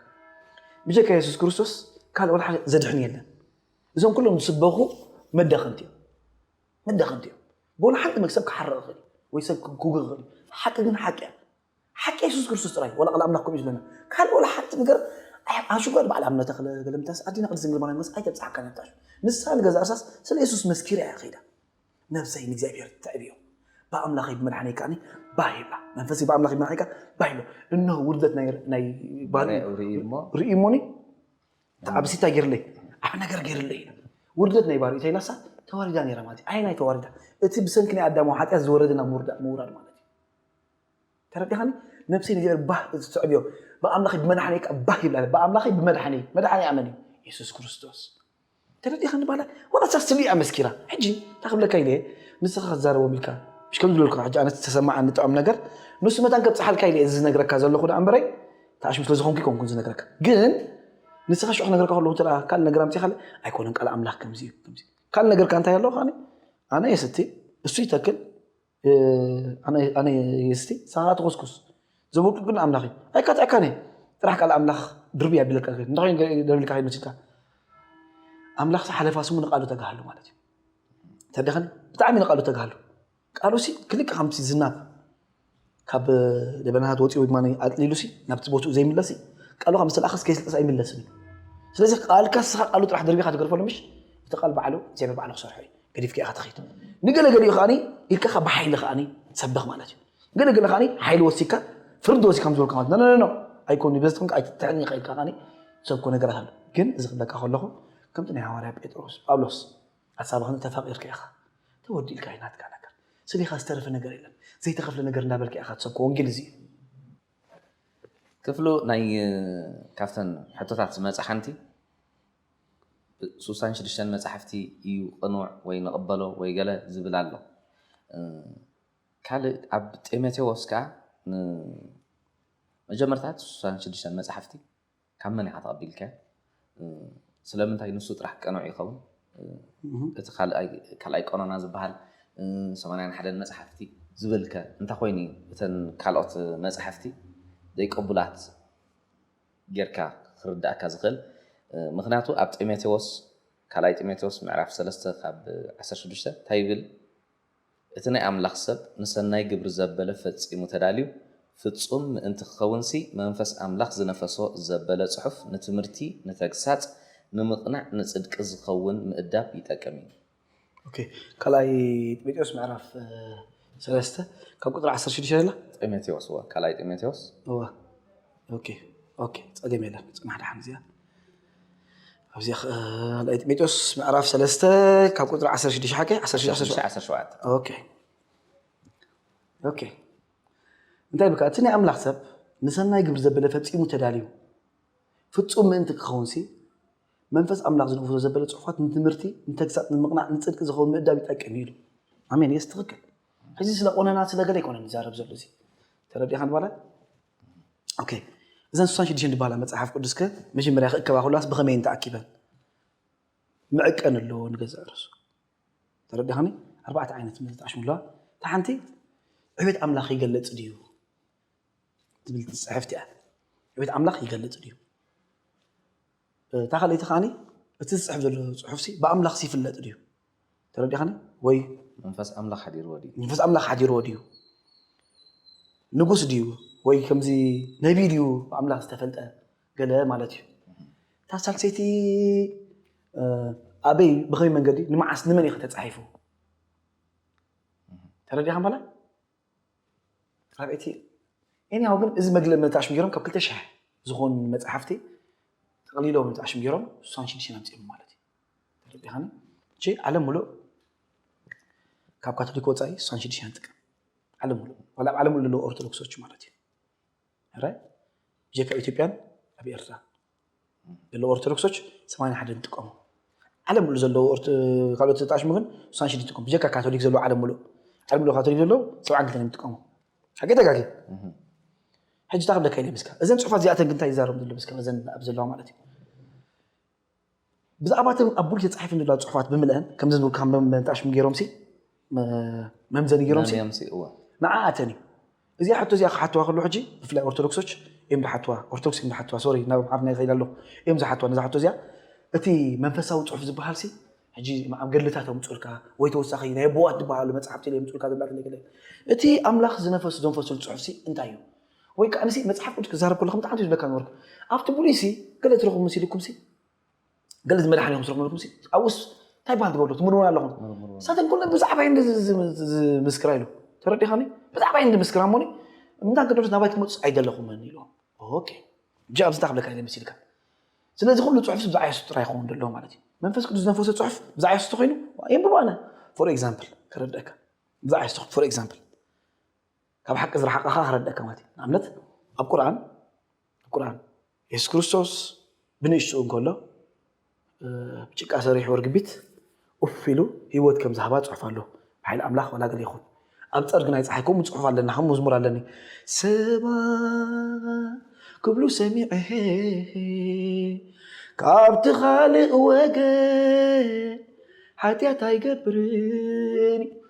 ብጀካ የሱስ ክርስቶስ ካልእ ወላ ሓደ ዘድሕን የለን እዞም ኩሎም ዝስበኹ መዳኸምቲ እዮም መዳኸምቲ እዮም ብወላ ሓንቲ መግ ሰብ ክሓርቕ ይኽእል ወይ ሰብ ክጉግ ይኽእል ሓቂ ግን ሓቂ እያ ሓቂ የሱስ ክርስቶስ ጥራይ ዋላ ቃል ኣምላክ ከምኡ እዩ ዝብለና ካልእ ዋላ ሓንቲ ነገር ኣሹ ጓል በዓል ኣምነ ተክለ ገለምታስ ኣዲና ቅድስት ድንግል ማርያም መስ ኣይተብጽሓካ ነታ ንሳ ንገዛ እርሳስ ስለ የሱስ መስኪራ እያ ከይዳ ነብሰይ ንእግዚኣብሔር ተዕብዮ ብኣምላኸይ ብመድሓነይ ከዓኒ ባህ ይብላ መንፈሰይ ብኣምላኸይ ብመድሓነይ ከዓ ባህ ይብላ እነሆ ውርደት ናይ ባህሪ ርእዩ እሞኒ ተዓብሲ እንታይ ገይርለይ ኣብ ነገር ገይርለይ ውርደት ናይ ባህሪ እንታይ ላሳ ተዋሪዳ ነይራ ማለት እዩ ኣይ ናይ ተዋሪዳ እቲ ብሰንኪ ናይ ኣዳማዊ ሓጢኣት ዝወረደ ናብ ምውራድ ማለት እዩ ተረዳኻኒ ነብሲ ንእግዚኣብሔር ባህ እትስዕብዮ ብኣምላኸይ ብመድሓኒይ ከዓ ባህ ይብላ ብኣምላኸይ ብመድሓኒይ መድሓኒያ መን እዩ የሱስ ክርስቶስ ተረዲኻኒ ባላ ዋላ እሳ ስሉ እያ መስኪራ ሕጂ እንታይ ክብለካ ኢለ ንስኻ ክትዛረቦም ኢልካ እሽ ከም ዝብለልኩ ሕጂ ኣነ ዝተሰማዓ ንጥዖም ነገር ንሱ መታን ከብፅሓልካ ኢለ እዚ ዝነግረካ ዘለኹ ዳኣ እምበረይ ተኣሽሙ ስለ ዝኾንኩ ይኮንኩን ዝነግረካ ግን ንስኻ ሽዑ ክነግረካ ከለኹ እንተ ካልእ ነገር ኣምፂኻ ኣይኮነን ቃል ኣምላኽ ከምዚ እዩ ከምዚ ካልእ ነገርካ እንታይ ኣለዎ ከዓኒ ኣነ የስቲ እሱ ይተክል ኣነ የስቲ ሳራ ትኩስኩስ ዘበልኩ ግን ኣምላኽ እዩ ኣይካትዐካን እየ ጥራሕ ቃል ኣምላኽ ድርብ ያቢለካ እንታይ ኮይኑ ደርቢልካ ከይመስልካ ኣምላኽ ሓለፋ ስሙ ንቃሉ ተጋሃሉ ማለት እዩ ተደኸን ብጣዕሚ ንቃሉ ተጋሃሉ ቃሉ ሲ ክልቅ ከምቲ ዝናብ ካብ ደበናታት ወፂኡ ድማ ኣጥሊሉ ሲ ናብቲ ቦትኡ ዘይምለስ ቃሉ ካብ ምስተላእኸስ ከይስልጠስ ኣይምለስን እዩ ስለዚ ቃልካ ስኻ ቃሉ ጥራሕ ደርቢኻ ትገርፈሉ ምሽ እቲ ቃል ባዕሉ እግዚኣብሔር ባዕሉ ክሰርሖ እዩ ገዲፍካ ኢኻ ትኸይድ ንገለ ገሊኡ ከዓኒ ኢልካ ካብ ብሓይሊ ከዓኒ ሰበኽ ማለት እዩ ገለ ገለ ከዓኒ ሓይሊ ወሲካ ፍርዲ ወሲካ ከም ዝበልካ ማለት ነነነ ኣይኮን በዚ ትኮንካ ኣይትትሕን ኢኻ ኢልካ ከዓኒ ሰብኮ ነገራት ኣሎ ግን እዚ ክብለካ ከለኹ ከምቲ ናይ ሃዋርያ ጴጥሮስ ጳውሎስ ሓሳብኽን ተፋቂርካ ኢኻ ተወዲእልካ እዩ ናትካ ነገር ስሊኻ ዝተረፈ ነገር የለን ዘይተኸፍለ ነገር እንዳበልካ ኢኻ ትሰብኮ ወንጌል እዚ እዩ ክፍሉ ናይ ካብተን ሕቶታት ዝመፅእ ሓንቲ ሱሳን ሽዱሽተን መጻሕፍቲ ኢዩ ቅኑዕ ወይ ንቕበሎ ወይ ገለ ዝብል ኣሎ። ካልእ ኣብ ጢሞቴዎስ ከኣ ን መጀመርታ እቲ ሱሳን ሽዱሽተን መጻሕፍቲ ካብ መን ኢኻ ተቐቢልካዮ? ስለምንታይ ንሱ ጥራሕ ቅኑዕ ይኸውን? እቲ ካልኣይ ካልኣይ ቀኖና ዝበሃል ሰማንያን ሓደን መጻሕፍቲ ዝብል ከ እንታይ ኮይኑ ኢዩ እተን ካልኦት መጻሕፍቲ ዘይቅቡላት? ጌርካ ክርድኣካ ዝኽእል ምኽንያቱ ኣብ ጢሞቴዎስ ካልኣይ ጢሞቴዎስ ምዕራፍ ሰለስተ ካብ ዓሰርተ ሽዱሽተ እንታይ ይብል እቲ ናይ ኣምላኽ ሰብ ንሰናይ ግብሪ ዘበለ ፈጺሙ ተዳልዩ ፍጹም ምእንቲ ክኸውንሲ መንፈስ ኣምላኽ ዝነፈሶ ዘበለ ጽሑፍ ንትምህርቲ ንተግሳጽ ንምቕናዕ ንጽድቂ ዝኸውን ምእዳብ ይጠቅም እዩ ኦኬ ካልኣይ ጢሞቴዎስ ምዕራፍ ሰለስተ ካብ ቁፅሪ ዓሰርተ ሽዱሽተ ዘላ ጢሞቴዎስ እወ ካልኣይ ጢሞቴዎስ እወ ኦኬ ኦኬ ፀገም የለን ፅናሕ ደሓን እዚኣ ኣብዚ ካልኣይ ጢሞቴዎስ ምዕራፍ ሰለስተ ካብ ቁፅሪ ዓሰርተ ሽዱሽተ ሓቂ ዓሰርተ ሽዱሽተ ዓሰርተ ሸውዓተ። ዓሰርተ ሸውዓተ ኦኬ ኦኬ እንታይ ብካ እቲ ናይ ኣምላኽ ሰብ ንሰናይ ግብሪ ዘበለ ፈጺሙ ተዳልዩ ፍጹም ምእንቲ ክኸውንሲ መንፈስ ኣምላኽ ዝድግፎ ዘበለ ጽሑፋት ንትምህርቲ፣ ንተግሳጽ፣ ንምቕናዕ፣ ንጽድቂ ዝኸውን ምእዳብ ይጠቅም እዩ ኢሉ። ኣሜን የስ ትክክል ሕዚ ስለ ቆነና ስለ ገለ ኣይኮነን ይዛረብ ዘሎ እዚ ተረዲኻ ንባላ ኦኬ እዘን ስሳን ሽዱሽተን ድባላ መጽሓፍ ቅዱስ ከ መጀመርያ ክእከባ ኩላስ ብኸመይ እንተኣኪበን ምዕቀን ኣለዎ ንገዛእ ርእሱ ተረዲኻኒ ኣርባዕተ ዓይነት ምልጣሽ ምለዋ እታ ሓንቲ ዕቤት ኣምላኽ ይገለጽ ድዩ ትብል ትፅሕፍቲ እያ ዕቤት ኣምላኽ ይገልፅ ድዩ እታ ካልኣይቲ ከዓኒ እቲ ዝፅሕፍ ዘሎ ፅሑፍሲ ብኣምላኽ ይፍለጥ ድዩ ተረዲኻኒ ወይ መንፈስ ኣምላኽ ሓዲርዎ ድዩ መንፈስ ኣምላኽ ሓዲርዎ ድዩ ንጉስ ድዩ ወይ ከምዚ ነቢ ድዩ ብኣምላኽ ዝተፈልጠ ገለ ማለት እዩ እታ ሳልሰይቲ ኣበይ ብኸመይ መንገዲ ንመዓስ ንመን እዩ ከተፃሒፉ ተረዲኻ ማለት ኣብ እቲ ኤኒሃው ግን እዚ መግለ መታሽም ገይሮም ካብ ክልተ ሽሕ ዝኾኑ መፅሓፍቲ ጠቕሊሎም መታሽም ገይሮም ስሳን ሽዱሽተን ኣምፂኦም ማለት እዩ ተረዲኻኒ እሺ ዓለም ሙሉእ ካብ ካቶሊክ ወፃኢ ስሳን ሽዱሽተን ጥቀም ዓለም ሙሉእ ዋላ ኣብ ዓለም ሙሉእ ዘለዉ ኦርቶዶክሶች ማለት እዩ ረ ብጀካ ኢትዮጵያን ኣብ ኤርትራ ኦርቶዶክሶች ሰማንያ ሓደ ንጥቀሙ ዓለም ሙሉ ዘለዉ ካልኦት ተጣሽሙ ግን ስሳን ሽዱሽተ ይጥቀሙ ብጀካ ካቶሊክ ዘለዉ ዓለም ሙሉእ ዓለም ሙሉእ ካቶሊክ ዘለዉ ሰብዓን ክልተን ይጥቀሙ ሓቂ ተጋጊ ሕጂ እታ ክብለካ ኢለ ምስካ እዘን ፅሑፋት እዚኣተን ግን እንታይ ይዛረቡ ዘሎ ምስካ እዘን ኣብ ዘለዋ ማለት እዩ ብዛዕባ እቶም ኣብ ቡልኬት ተጻሒፈን ዘለዋ ጽሑፋት ብምልእን ከምዚ ዝብል ካብ መምጠኣሽም ገይሮምሲ መምዘኒ ገይሮምሲ ንዓኣተን እዩ እዚኣ ሕቶ እዚኣ ክሓትዋ ከሎ ሕጂ ብፍላይ ኦርቶዶክሶች እዮም ዝሓትዋ ኦርቶዶክስ እዮም ዝሓትዋ ሶሪ ናብ ዓፍና ይኸይድ ኣለኹ እዮም ዝሓትዋ ነዛ ሕቶ እዚኣ እቲ መንፈሳዊ ጽሑፍ ዝበሃልሲ ሕጂ ኣብ ገድልታት ኣምጹልካ ወይ ተወሳኺ ናይ ኣቦዋት ዝበሃሉ መጽሓፍቲ የምጹልካ ገድላት እቲ ኣምላኽ ዝነፈሱ ዘንፈሱሉ ጽሑፍሲ እንታይ እዩ ወይ ከኣ ንሲ መጽሓፍ ቅዱስ ክዛረብ ከሎ ከም ጣዕንቱ ይብለካ ነበርኩ ኣብቲ ብሉይሲ ገለ ትረኽቡ መሲልኩምሲ ገለ ዝመድሓኒ ከም ትረኽቡ መልኩምሲ ኣብኡስ እንታይ በሃል ትገብሩ ትምርምሩ ኣለኹም ሳተን ኩለ ብዛዕባ እንዲ ዝምስክራ ኢሉ ተረዲኻኒ ብዛዕባ እንዲ ምስክራ እሞኒ እምንታ ቅዱስ ናባይ ክትመፁ ኣይደለኹምን ኢሉ ኦኬ እጂ ኣብዚ እንታይ ክብለካ ኢለ መሲልካ ስለዚ ኩሉ ፅሑፍ ብዛዕባ የሱስ ጥራይ ይኸውን ደሎ ማለት እዩ መንፈስ ቅዱስ ዝነፈሰ ፅሑፍ ብዛዕባ የሱስ ተኮይኑ የንብቦ ኣነ ፎር ኤግዛምፕል ከረድአካ ብዛዕባ የሱስ ፎር ኤግዛምፕል ካብ ሓቂ ዝረሓቐኻ ክረደካ ማለት እዩ ንኣብነት ኣብ ቁርን ቁርን የሱስ ክርስቶስ ብንእሽትኡ እንከሎ ብጭቃ ሰሪሑ ርግቢት ኡፍ ኢሉ ህይወት ከም ዝሃባ ፅሑፍ ኣሎ ብሓይሊ ኣምላኽ ዋላ ገለ ይኹን ኣብ ፀርጊ ናይ ፀሓይ ከምኡ ፅሑፍ ኣለና ከም መዝሙር ኣለኒ ሰባ ክብሉ ሰሚዐ ካብቲ ካልእ ወገን ሓጢኣት ኣይገብርን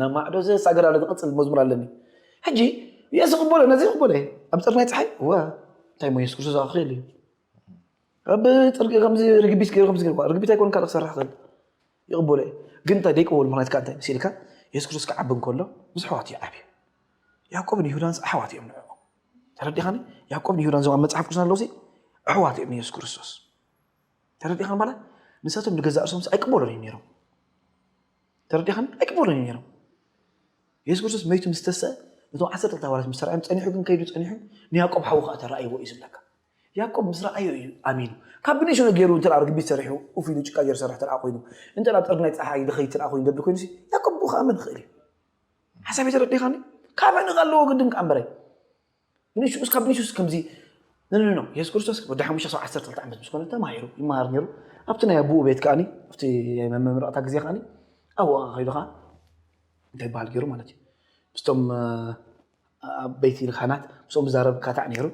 ናብ ማዕዶ ዘሳገር ኣሎ ዝቕጽል መዝሙር ኣለኒ ሕጂ የሱ ቅበሎ ነዚ ቅበሎ እየ ኣብ ፀር ናይ ፀሓይ እወ እንታይ ሞ የሱስ ክርስቶስ ክኽእል እዩ ኣብ ፅርቂ ከምዚ ርግቢት ገይሩ ከምዚ ገይሩ ርግቢት ኣይኮን ካልእ ክሰርሕ ክእል ይቕበሎ እዩ ግን እንታይ ደይቅበሉ ምክንያት ካ እንታይ ሲልካ የሱስ ክርስቶስ ክዓቢ እንከሎ ምስ ኣሕዋት እዩ ዓብዩ ያዕቆብን ይሁዳንስ ኣሕዋት እዮም ንዕኡ ተረዲኻኒ ያዕቆብን ይሁዳን ዞም ኣብ መፅሓፍ ቅዱስና ኣለውሲ ኣሕዋት እዮም ንየሱስ ክርስቶስ ተረዲኻኒ ማለት ንሳቶም ንገዛእ ርእሶምሲ ኣይቅበሎን እዮም ነይሮም ተረዲኻኒ ኣይቅበሉን እዮም ነይሮም የሱስ ክርስቶስ መይቱ ምስ ተስአ ነቶም ዓሰርተ ክልተ ሃዋርያት ምስ ተራእዮም ጸኒሑ ግን ከይዱ ጸኒሑ ንያዕቆብ ሓዉ ከዓ ተራእይዎ እዩ ዝብለካ ያዕቆብ ምስ ረኣዮ እዩ ኣሚኑ ካብ ብንእሹ ነገሩ እንተ ርግቢት ሰሪሑ ኡፍ ኢሉ ጭቃ ገይሩ ሰርሕ ተረኣ ኮይኑ እንተ ጥርግ ናይ ፀሓይ ድኸይ ተረኣ ኮይኑ ደብዲ ኮይኑ ያዕቆብ ብኡ ከኣምን ይኽእል እዩ ሓሳብ ተረዲኻኒ ካበ ንኸ ኣለዎ ግድን ከኣ እምበረይ ብንሽኡ እስካብ ብንሽኡስ ከምዚ ንንኖ የሱስ ክርስቶስ ወዲ ሓሙሽተ ክሳብ ዓሰርተ ክልተ ዓመት ምስ ኮነ ተማሂሩ ይመሃር ነይሩ ኣብቲ ናይ ኣቦኡ ቤት ከዓኒ ኣብቲ ናይ መመረቕታ ግዜ ከዓኒ ኣብኡ ከኣ ከይዱ ከኣ እንታይ ይበሃል ገይሩ ማለት እዩ ምስቶም ኣብ ቤት ልካናት ምስኦም ዝዛረብ ካታዕ ነይሩ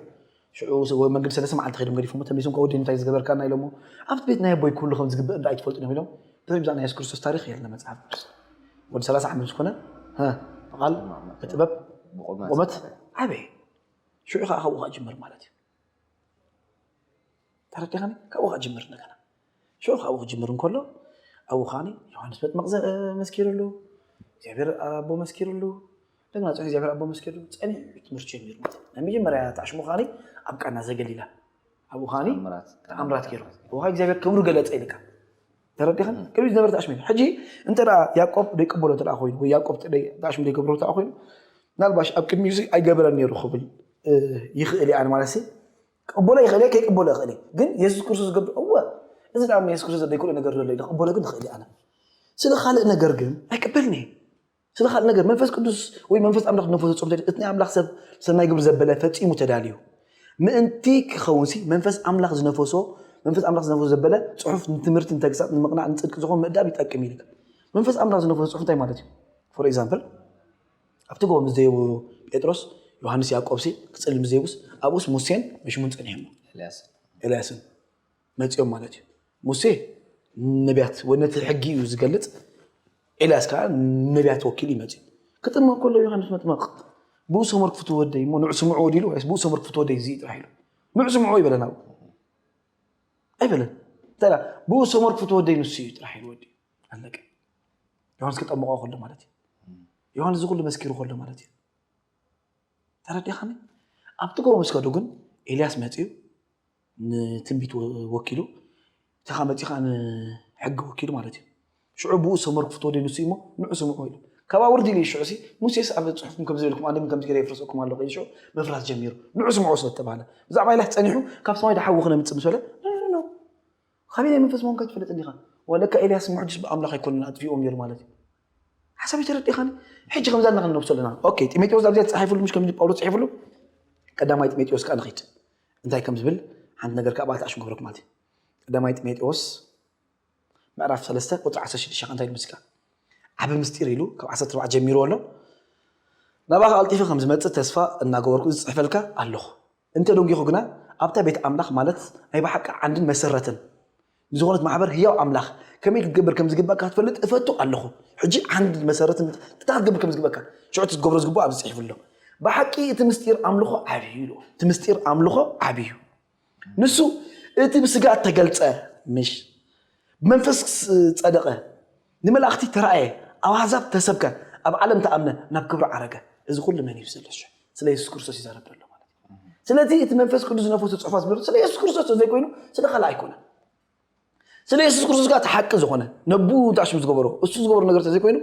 ሽዑ ወይ መንገዲ ሰለስተ መዓልቲ ከይዶም ገዲፎሞ ተመሊሶም ከወዲ እንታይ ዝገበርካና ኢሎሞ ኣብቲ ቤት ናይ ኣቦይ ክህሉ ከም ዝግበእ እንዳ ኣይትፈልጡን እዮም ኢሎም ብዛዕባ ናይ የሱስ ክርስቶስ ታሪክ የለ መጽሓፍ ቅዱስ ወዲ ሰላሳ ዓመት ምስ ኮነ ብቓል ብጥበብ ብቑመት ዓበየ ሽዑ ከዓ ካብኡ ከዓ ጅምር ማለት እዩ ተረዲኻኒ ካብኡ ከዓ ጅምር እንደገና ሽዑ ካብኡ ክጅምር እንከሎ ኣብኡ ከዓ ዮሃንስ መጥመቕ መስኪሩሉ እግዚኣብሔር ኣቦ መስኪሩሉ እንደገና ፅሑ እግዚኣብሔር ኣቦ መስኪሩሉ ፀኒሑ ትምህርቲ ጀሚሩ ማለት እዩ ናይ መጀመርያ ተዓሽሙ ከዓ ኣብ ቃና ዘገሊላ ኣብኡ ከዓ ተኣምራት ገይሩ ኣብኡ ከዓ እግዚኣብሔር ክብሩ ገለፀ ኢልካ ተረዲኻኒ ቅድሚት ዝነበረ ተኣሽሚሉ ሕጂ እንተ ያቆብ ዘይቅበሎ እንተ ኮይኑ ወይ ያቆብ ተኣሽሚ ዘይገብሮ እንተ ኮይኑ ምናልባሽ ኣብ ቅድሚ እዚ ኣይገበረን ነይሩ ክብል ይኽእል እየ ኣነ ማለት ሲ ክቕበሎ ይኽእል እየ ከይቅበሎ ይኽእል እየ ግን የሱስ ክርስቶስ ዝገብር እወ እዚ ዳኣ የሱስ ክርስቶስ ዘይክእሎ ነገር ዘሎ ክቕበሎ ግን ይኽእል እየ ኣነ ስለ ካልእ ነገር ግን ኣይቅበልን እየ ስለ ካልእ ነገር መንፈስ ቅዱስ ወይ መንፈስ ኣምላኽ ነንፈስ ፍጹም ተድ እቲ ናይ ኣምላኽ ሰብ ሰናይ ግብሪ ዘበለ ፈጺሙ ተዳልዩ ምእንቲ ክኸውንሲ መንፈስ ኣምላኽ ዝነፈሶ መንፈስ ኣምላኽ ዝነፈሶ ዘበለ ጽሑፍ ንትምህርቲ ንተግሳጽ ንምቕናዕ ንጽድቂ ዝኾን ምእዳብ ይጠቅም ኢልካ መንፈስ ኣምላኽ ዝነፈሶ ጽሑፍ እንታይ ማለት እዩ ፎር ኤግዛምፕል ኣብቲ ጎቦ ምስ ዘየቡ ጴጥሮስ ዮሃንስ ያዕቆብሲ ክጽልም ምስ ዘይቡስ ኣብኡስ ሙሴን መሽሙን ጸኒሖሞ ኤልያስን መጺኦም ማለት እዩ ሙሴ ነቢያት ወይ ነቲ ሕጊ እዩ ዝገልጽ ኤልያስ ከዓ ነቢያት ወኪል እዩ መጺኡ ክጥመቕ ከሎ ዮሃንስ መጥመቕ ብኡ ሰመር ክፍቱ ወደይ እሞ ንዑ ስምዑ ወዲሉ ወይስ ብኡ ሰመር ክፍቱ ወደይ እዚ ጥራሕ ኢሉ ንዑ ስምዑ ይበለን ኣብኡ ኣይበለን እንተ ብኡ ሰመር ክፍቱ ወደይ ንሱ እዩ ጥራሕ ኢሉ ወዲ ኣለቀ ዮሃንስ ክጠምቆ ከሎ ማለት እዩ ዮሃንስ ዝኩሉ መስኪሩ ከሎ ማለት እዩ ተረዲኻኒ ኣብቲ ጎቦ ምስ ከዱ ግን ኤልያስ መጺኡ ንትንቢት ወኪሉ እቲኻ መጺኻ ንሕጊ ወኪሉ ማለት እዩ ሽዑ ብኡ ሰመርኩ ፍትወደይ ንሱ እሞ ንዑ ስምዑ ኢሉ ካብኣ ውርድ ኢሉ ሽዑ ሲ ሙሴስ ኣብ ጽሑፍኩም ከምዚ ኢልኩም ኣንድም ከምዚ ገለ የፍርሰኩም ኣሎ ከይል ሽዑ ምፍራስ ጀሚሩ ንዑ ስምዑ ስለ ተባህለ ብዛዕባ ኢላህ ጸኒሑ ካብ ሰማይ ዶ ሓዊ ክነምጽእ ምስ በለ ኻበይ ናይ መንፈስ ምዃንካ ኣይትፈልጥን ኢኻ። ዋእ ለካ ኤልያስ ሙሕድሽ ብኣምላኽ ኣይኮነን ኣጥፊእዎም ነይሩ ማለት እዩ። ሓሳበይ ተረዲእኻኒ? ሕጂ ከምዛ ኣለና ክንነብሶ ኣለና። ኦኬ ጢሞቴዎስ ኣብዚኣ ተጻሒፍሉ ምሽ ከምዚ ጳውሎስ ጽሒፍሉ ቀዳማይ ጢሞቴዎስ ከኣ ንኺድ እንታይ ከም ዝብል ሓንቲ ነገር ከኣ ባዕልቲ ኣሽሙ ክብረኩም ማለት እዩ። ቀዳማይ ጢሞቴዎስ ምዕራፍ 3 ቁጽሪ 16 ከኣ እንታይ ይብል ምስካ ዓቢ ምስጢር ኢሉ ካብ ዓሰርተ ኣርባዕተ ጀሚርዎ ኣሎ። ናባኻ ቀልጢፈ ከም ዝመጽእ ተስፋ እናገበርኩ እዚ ጽሕፈልካ ኣለኹ። እንተ ደንጒኹ ግና ኣብታ ቤት ኣምላኽ ማለት ናይ ብሓቂ ዓንድን መሰረትን ንዝኾነት ማሕበር ህያው ኣምላኽ ከመይ ክትገብር ከም ዝግብኣካ ክትፈልጥ እፈቱ ኣለኹ። ሕጂ ዓንድን መሰረትን እንታይ ክትገብር ከም ዝግብኣካ ሽዑ እቲ ክትገብሮ ዝግብኦ ኣብዚ ጽሒፉ ኣሎ። ብሓቂ እቲ ምስጢር ኣምልኾ ዓቢ እዩ ኢልዎ። እቲ ምስጢር ኣምልኾ ዓቢ እዩ። ንሱ እቲ ብስጋ እተገልጸ ምሽ ብመንፈስ ጸደቐ፣ ንመላእኽቲ ተራእየ፣ ኣብ ኣሕዛብ ተሰብከ፣ ኣብ ዓለም ተኣምነ፣ ናብ ክብሪ ዓረገ። እዚ ኩሉ መን እዩ ዝሰለሾ? ስለ የሱስ ክርስቶስ ይዛረብ ዘሎ ማለት እዩ። ስለዚ እቲ መንፈስ ቅዱስ ዝነፈሶ ጽሑፋት ዝብሎ ስለ የሱስ ክርስቶስ ተዘይኮይኑ ስለ ካልእ ኣይኮነን። ስለ የሱስ ክርስቶስ ጋር ተሓቂ ዝኾነ ነቡ ታሽም ዝገበሮ እሱ ዝገበሮ ነገር ተዘይኮይኑ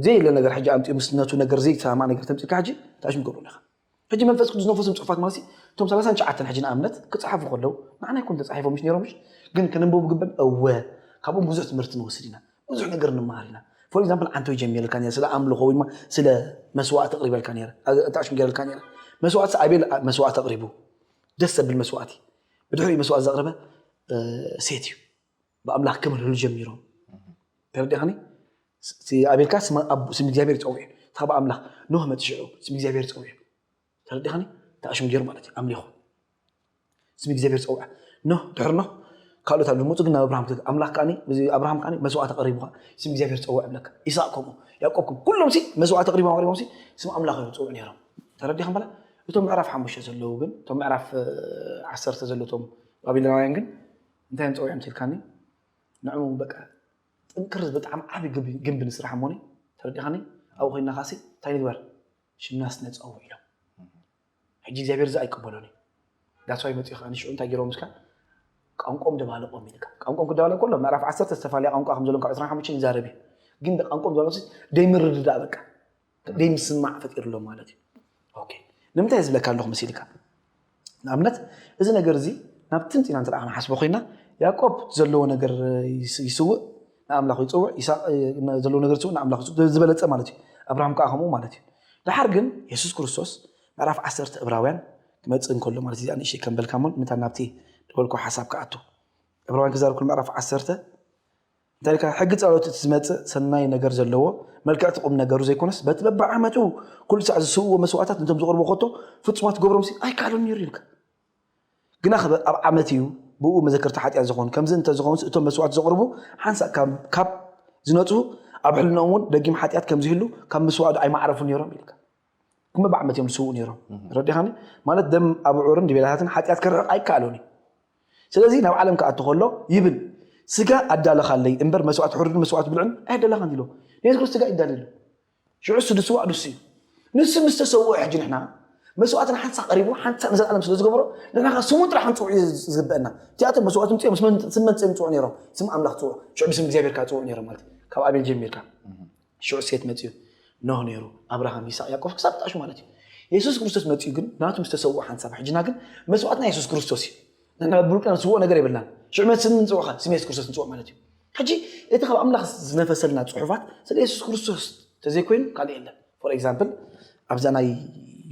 ዘይለ ነገር ሕጂ ኣምጢኡ ምስ ነቱ ነገር ዘይተሰማማዕ ነገር ተምጺልካ ሕጂ ታሽም ገብሩ ኣለኻ ሕጂ መንፈስ ቅዱስ ነፎስም ጽሑፋት ማለትሲ እቶም ሰላሳን ትሽዓተን ሕጂ ንኣብነት ክጸሓፉ ከለው ንዓና ኣይኮኑን ተጻሒፎም ምሽ ነይሮም ምሽ ግን ከነንበቡ ግበን እወ ካብኦም ብዙሕ ትምህርቲ ንወስድ ኢና ብዙሕ ነገር ንመሃር ኢና ፎር ኤግዛምፕል ዓንተይ ጀሚረልካ ነረ ስለ ኣምልኾ ወይ ስለ መስዋእቲ ኣቕሪበልካ ነረ ኣታሽም ገይረልካ ነረ መስዋእቲ ኣቤል መስዋእቲ ኣቕሪቡ ደስ ዘብል መስዋእቲ ብድሕሪኡ መስዋእቲ ዘቕረበ ሴት እዩ ብኣምላኽ ከመልህሉ ጀሚሮም ተረዲኻኒ ኣቤልካ ስም እግዚኣብሔር ይፀውዕ ካብ ኣምላኽ ኖህ መፅ ሽዑ ስም እግዚኣብሔር ፀውዕ ተረዲኻኒ ተኣሽም ገይሩ ማለት እዩ ኣምሊኹ ስም እግዚኣብሔር ፀውዐ ኖህ ድሕር ኖህ ካልኦት ኣብ ዝመፁ ግን ናብ ኣብርሃም ኣምላኽ ከዓኒ ኣብርሃም ከዓኒ መስዋዕት ኣቕሪቡካ ስም እግዚኣብሔር ፀውዕ ብለካ ኢሳቅ ከምኡ ያዕቆብ ከምኡ ኩሎም ሲ መስዋዕት ኣቕሪቦም ኣቕሪቦም ሲ ስም ኣምላኽ እዮም ፀውዕ ነይሮም ተረዲኻ በላ እቶም ምዕራፍ ሓሙሽተ ዘለዉ ግን እቶም ምዕራፍ ዓሰርተ ዘለቶም ባቢሎናውያን ግን እንታይ እዮም ፀዊዖም ትልካኒ ንዕኡ በቃ ጥንክር ብጣዕሚ ዓብይ ግንቢ ንስራሕ እሞኒ ተረዲኻኒ ኣብኡ ኮይና ካሲ እንታይ ንግበር ሽምናስ ነፀውዕ ኢሎም ሕጂ እግዚኣብሔር እዚ ኣይቅበሎን እዩ ዳስዋይ መፅኡ ከዓ ንሽዑ እንታይ ገይሮም ምስካ ቋንቋም ደባለቆም ኢልካ ቋንቋም ክደባለቅ ከሎ ምዕራፍ ዓሰርተ ዝተፈላለየ ቋንቋ ከም ዘለዎም ካብ ዕስራን ሓሙሽተን ይዛረብ እዩ ግን ቋንቋም ደባለቆ ዘይምርድዳእ በቃ ዘይምስማዕ ፈጢርሎም ማለት እዩ ኦኬ ንምንታይ ዝብለካ ኣለኹ መሲልካ ንኣብነት እዚ ነገር እዚ ናብ ትምፂ ኢና እንተ ክንሓስቦ ኮይና ያዕቆብ ዘለዎ ነገር ይስውእ ንኣምላኹ ይፅውዕ ይስቅ ዘለዎ ነገር ይስውእ ንኣምላኹ ዝበለፀ ማለት እዩ ኣብርሃም ከዓ ከምኡ ማለት እዩ ድሓር ግን የሱስ ክርስቶስ ምዕራፍ ዓሰርተ እብራውያን ክመፅእ እንከሎ ማለት እዚኣ ንእሽተይ ከምበልካ እሞ ምታ ናብቲ ዝበልኩ ሓሳብ ክኣቱ እብራውያን ክዛረብ ክል ምዕራፍ ዓሰርተ እንታይ ኢልካ ሕጊ ጸሎት እቲ ዝመጽእ ሰናይ ነገር ዘለዎ መልክዕቲ ቁም ነገሩ ዘይኮነስ በቲ በብዓመቱ ኩሉ ሳዕ ዝስውዎ መስዋእታት እንቶም ዝቕርቡ ከቶ ፍጹማት ክገብሮምሲ ኣይከኣሎን ነይሩ ይብልካ ግና ክበ ኣብ ዓመት እዩ ብኡ መዘከርታ ሓጢኣት ዝኾን ከምዚ እንተዝኸውንስ እቶም መስዋእት ዘቕርቡ ሓንሳእ ካብ ዝነጽሁ ኣብ ሕልናኦም እውን ደጊም ሓጢኣት ከምዝህሉ ካብ ምስዋእዶ ኣይማዕረፉ ነይሮም ኢልካ እሞ ብዓመት እዮም ዝስውኡ ነይሮም ረዲኻኒ ማለት ደም ኣብዑርን ድቤላታትን ሓጢኣት ከርሕቕ ኣይከኣሎን እዩ ስለዚ ናብ ዓለም ክኣቱ ከሎ ይብል ስጋ ኣዳለኻለይ እምበር መስዋዕት ሕሩድን መስዋዕት ብልዕን ኣያዳለኻን ኢሎ ንየሱስ ክርስቶስ ስጋ ይዳለሉ ሽዑ እሱ ድስዋዕ ንሱ እዩ ንሱ ምስ ተሰውኦ ሕጂ ንሕና መስዋዕትና ሓንሳ ቀሪቡ ሓንሳ ንዘለኣለም ስለ ዝገበሮ ንሕና ከ ስሙ ጥራሕ ክንፅውዕ እዩ ዝግበአና እቲኣቶም መስዋዕት ምፅኦም ስም መፅኦም ይፅውዑ ነይሮም ስም ኣምላኽ ፅውዑ ሽዑ ብስም እግዚኣብሔር ከዓ ፅውዑ ነይሮም ማለት ካብ ኣቤል ጀሚርካ ሽዑ ሴት መጺኡ ኖህ ነይሩ ኣብርሃም ይስቅ ያቆፍ ክሳብ ጣሹ ማለት እዩ የሱስ ክርስቶስ መጺኡ ግን ናቱ ምስ ተሰውኦ ሓንሳብ ሕጅና ግን መስዋእትና የሱስ ክርስቶስ እዩ ንሕና ብውልቅና ንስውኦ ነገር የብልናን ሽዑ መን ስም ንጽውዖ ካብ ስም የሱስ ክርስቶስ ንጽውዖ ማለት እዩ ሕጂ እቲ ካብ ኣምላኽ ዝነፈሰልና ጽሑፋት ስለ የሱስ ክርስቶስ ተዘይኮይኑ ካልእ የለን ፎር ኤግዛምፕል ኣብዛ ናይ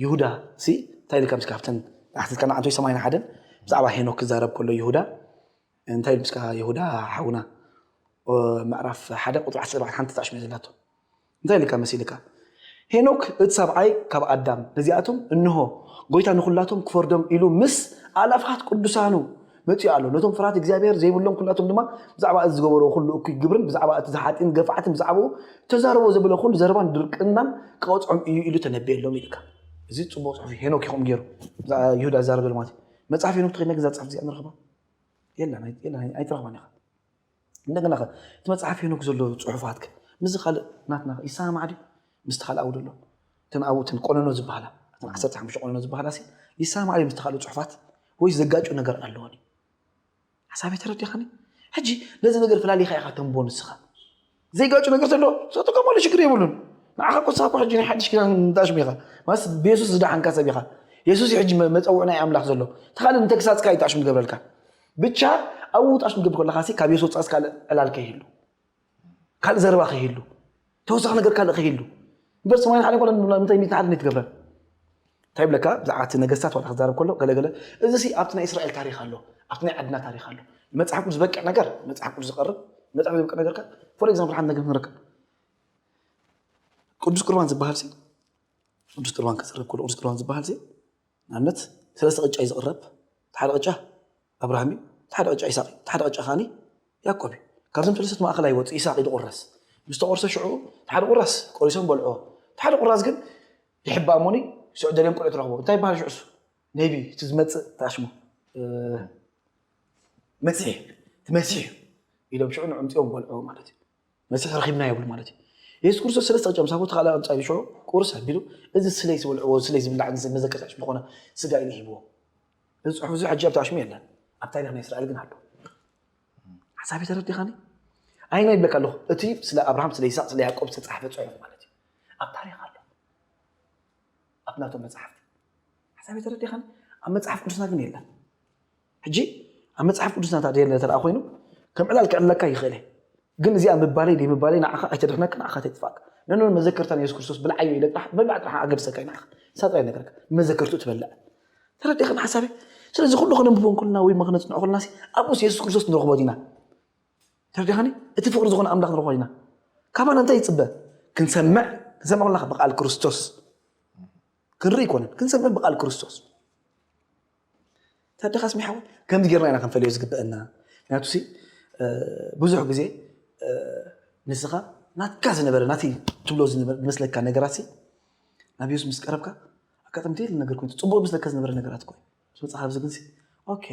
ይሁዳ ሲ እንታይ ኢልካ ምስ ካብተን ኣሕትትካና ኣንቶይ ሰማይና ሓደን ብዛዕባ ሄኖክ ክዛረብ ከሎ ይሁዳ እንታይ ይብልስካ የሁዳ ሓውና ምዕራፍ ሓደ ቁፅሪ ዓሰርተ ኣርባዕተ ሓንቲ ጣዕሽመ ዘላቶ እንታይ ኢልካ መሲልካ ሄኖክ እቲ ሰብኣይ ካብ ኣዳም ነዚኣቶም እንሆ ጎይታ ንኩላቶም ክፈርዶም ኢሉ ምስ ኣእላፋት ቅዱሳኑ መፂኡ ኣሎ ነቶም ፍርሃት እግዚኣብሔር ዘይብሎም ኩላቶም ድማ ብዛዕባ እዚ ዝገበርዎ ኩሉ እኩይ ግብርን ብዛዕባ እቲ ዝሓጢን ገፋዕትን ብዛዕባኡ ተዛርቦ ዘበለ ኩሉ ዘረባን ድርቅናን ክቐፅዖም እዩ ኢሉ ተነቢየሎም ኢልካ እዚ ፅቡቅ ፅሑፍ እዩ ሄኖክ ይኸም ገይሩ ይሁዳ ዝዛረበሉ ማለት እዩ መፅሓፍ ሄኖክ ተኸድና ግዛ ፅሕፍ እዚኣ ንረኽባ የለን ኣይ- የለን ኣይ- ኣይትረኽባን ኢኻ እንደገና ከ እቲ መፅሓፍ ሄኖክ ዘሎ ፅሑፋት ከ ምስዚ ካልእ ናትና ከ ይሰማማዕ ድዩ ምስቲ ካልእ ኣብኡ ዘሎ እተን ኣብኡ እተን ቆነኖ ዝበሃላ እተን ዓሰርተ ሓሙሽተ ቆነኖ ዝበሃላ ሲ ይሰማማዕ ድዩ ምስቲ ካልእ ፅሑፋት ወይስ ዘጋጩ ነገር ኣለወን እዩ ሓሳበይ ተረዲኻኒ ሕጂ ነዚ ነገር ፈላሊኻ ኢኻ ተንቦ ንስኻ ዘይጋጩ ነገር ዘሎ ተጥቀመሉ ሽግር የብሉን ንዓኻ ኮሳብ እኳ ሕጂ ናይ ሓድሽ ኪዳን ንታሽሙ ኢኻ ማለት ብየሱስ ዝደሓንካ ሰብ ኢኻ የሱስ እዩ ሕጂ መፀውዕ ናይ ኣምላኽ ዘሎ ተኻል ንተግሳፅካ እዩ ጣሽሙ ገብረልካ ብቻ ኣብኡ ጣሽሙ ገብር ከለካ ሲ ካብ የሱስ ወፃእስ ካልእ ዕላል ከይህሉ ካልእ ዘረባ ከይህሉ ተወሳኺ ነገር ካልእ ከይህሉ እምበር ሰማይን ሓደ ኮለን ምንታይ ሚት ንሓደ ትገብረን እንታይ ይብለካ ብዛዕባ እቲ ነገስታት ዋላ ክዛረብ ከሎ ገለ ገለ እዚ ሲ ኣብቲ ናይ እስራኤል ታሪክ ኣሎ ኣብቲ ናይ ዓድና ታሪክ ኣሎ መጽሓፍ ቅዱስ ዝበቅዕ ነገር መጽሓፍ ቅዱስ ዝቀርብ መጽሓፍ ዝበቅዕ ነገር ከ ፎር ኤግዛምፕል ሓንቲ ነገር ክንረክብ ቅዱስ ቁርባን ዝበሃል ሲ ቅዱስ ቁርባን ክዝረብ ከሎ ቅዱስ ቁርባን ዝበሃል ሲ ንኣብነት ሰለስተ ቅጫ እዩ ዝቅረብ ሓደ ቅጫ ኣብርሃም እዩ፣ እቲ ሓደ ቅጫ ኢሳቕ እዩ፣ እቲ ሓደ ቅጫ ከኣ ያእቆብ እዩ። ካብዞም ሰለሰት ማእከል ኣይወጽእ፣ ኢሳቕ እዩ ዝቑረስ። ምስ ተቖርሰ ሽዑ እቲ ሓደ ቑራስ ቆሪሶም በልዑዎ፣ እቲ ሓደ ቑራስ ግን ይሕባእ እሞኒ ሽዑ ደልዮም ቁልዑ ትረኽቡ። እንታይ ይበሃል ሽዑ እሱ? ነቢ እቲ ዝመጽእ እንታይ ሽሙ? መሲሕ እቲ መሲሕ እዩ ኢሎም ሽዑ ንዕምጺኦም በልዑዎ ማለት እዩ። መሲሕ ረኺብና ይብሉ ማለት እዩ የሱስ ክርስቶስ ሰለስተ ቅጫ ምስ ኣቦቱ ካልኣ ቅጫ ይሽዑ ቁርስ ኣቢሉ እዚ ስለይ ዝበልዕዎ ስለይ ዝብላዕ መዘከርታ ሽም ዝኾነ ስጋ ኢሉ ሂብዎ እዚ ፅሑፍ እዚ ሕጂ ኣብታ ሽሙ የለን ኣብ ታሪክ ናይ እስራኤል ግን ኣሎ ሓሳብ ተረዲኻኒ ኣይና ይብለካ ኣለኹ እቲ ስለ ኣብርሃም ስለ ይስቅ ስለ ያዕቆብ ዝተፃሕፈ ፅሑፍ ማለት እዩ ኣብ ታሪክ ኣሎ ኣብ ናቶም መፅሓፍቲ ሓሳብ ተረዲኻኒ ኣብ መፅሓፍ ቅዱስና ግን የለን ሕጂ ኣብ መጽሓፍ ቅዱስና እታ ደየለ ተደኣ ኮይኑ ከም ዕላል ክዕለካ ይኽእል እየ ግን እዚኣ ምባለይ ደይምባለይ ንዓኻ ኣይተድሕነካ ንዓኻ ኣይተጥፍኣካ ነኖ መዘከርታ ናይ የሱስ ክርስቶስ ብልዓዮ ኢለ ጥራሕ ምብላዕ ጥራሕ ኣገድሰካ እዩ ንዓኻ ንሳ ጥራይ ነገርካ መዘከርቱ ትበልዕ ተረዲእኻ ሓሳበይ ስለዚ ኩሉ ከነንብቦ እንከለና ወይ ድማ ክነጽንዖ ከለና ኣብኡስ የሱስ ክርስቶስ ንረኽቦ ዲና ተረዲኻኒ እቲ ፍቕሪ ዝኾነ ኣምላኽ ንረኽቦ ዲና ካባና እንታይ ይጽበ ክንሰምዕ ክንሰምዕ ከለና ብቃል ክርስቶስ ክንርኢ ኣይኮነን ክንሰምዕን ብቃል ክርስቶስ ታደኻ ስሚ ሓወይ ከምዚ ጌርና ኢና ክንፈልዮ ዝግበአና ምክንያቱ ሲ ብዙሕ ግዜ ንስኻ ናትካ ዝነበረ ናቲ ትብሎ ዝመስለካ ነገራት ናብ የሱስ ምስ ቀረብካ ኣጋጣሚ ደል ነገር ኮይኑ ፅቡቅ ዝመስለካ ዝነበረ ነገራት ኮይኑ ምስ መፅኻ ኣብዚ ግንሲ ኦኬ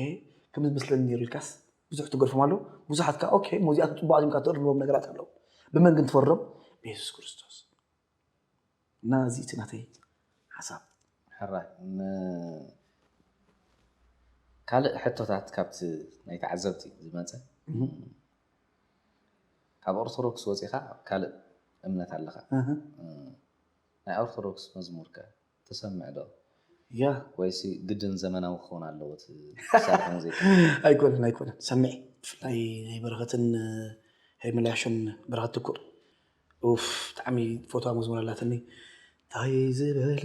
ከም ዝመስለኒ ነይሩ ኢልካስ ብዙሕ ትገርፎም ኣለዉ ብዙሓት ከዓ ኦኬ ሞዚኣቶም ፅቡቃት እዮም ትእርምዎም ነገራት ኣለዉ ብመን ግን ትፈርዶም ብየሱስ ክርስቶስ እና እዚ እቲ ናተይ ሓሳብ ሕራይ ካልእ ሕቶታት ካብቲ ናይ ተዓዘብቲ ዝመፀ ካብ ኦርቶዶክስ ወፂኻ ካልእ እምነት ኣለኻ ናይ ኦርቶዶክስ መዝሙር ከ ትሰምዕ ዶ ያህ ወይሲ ግድን ዘመናዊ ክኸውን ኣለዎ እቲ ትሰርሖ ሙዚቃ? ኣይኮነን ኣይኮነን ሰሚዐ ብፍላይ ናይ በረኸትን ሄርሜላሾን በረኸት ትኩእ ኡፍ ብጣዕሚ ፈትዋ መዝሙር ኣላትኒ ታይ ዝበለ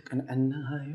ቅንዕናዩ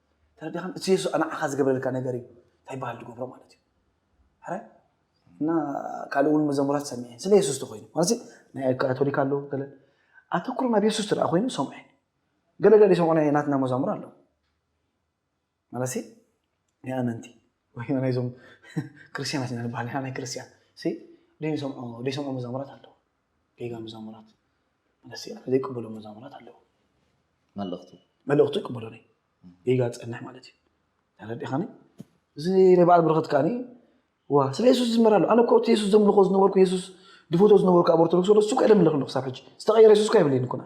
ተረዲኻን እቲ የሱስ ንዓኻ ዝገብረልካ ነገር እዩ እንታይ ይበሃል ዝገብሮ ማለት እዩ ሕራይ እና ካልእ እውን መዘሙራት ሰሚዐ ስለ የሱስ ተኮይኑ ማለት ናይ ካቶሊክ ኣሎ ገለ ኣተኩሮ ናብ የሱስ ትረኣ ኮይኑ ሰምዐ ገለ ገለ ሰምዑ ናይ ናትና መዛሙር ኣሎ ማለት ናይ ኣመንቲ ወይ ናይዞም ክርስትያናት ኢና ንበሃል ንሕና ናይ ክርስትያን ደይሰምዑ ደይሰምዑ መዛሙራት ኣለዉ ጌጋ መዛሙራት መለሲ ኣነ ዘይቅበሎ መዛሙራት ኣለዉ መልእኽቱ መልእኽቱ ይቅበሎ ነይ ጌጋ ዝፀንሕ ማለት እዩ ተረዲኻኒ እዚ ናይ በዓል ብረኸት ከዓኒ ዋ ስለ የሱስ ዝመር ኣሎ ኣነ እኮ እቲ የሱስ ዘምልኾ ዝነበርኩ የሱስ ድፈቶ ዝነበርኩ ኣብ ኦርቶዶክስ ወደ እሱ እኳ የምልኽ ኣለኹ ክሳብ ሕጂ ዝተቐየረ የሱስ እኳ የብለይን እኮ ንዓይ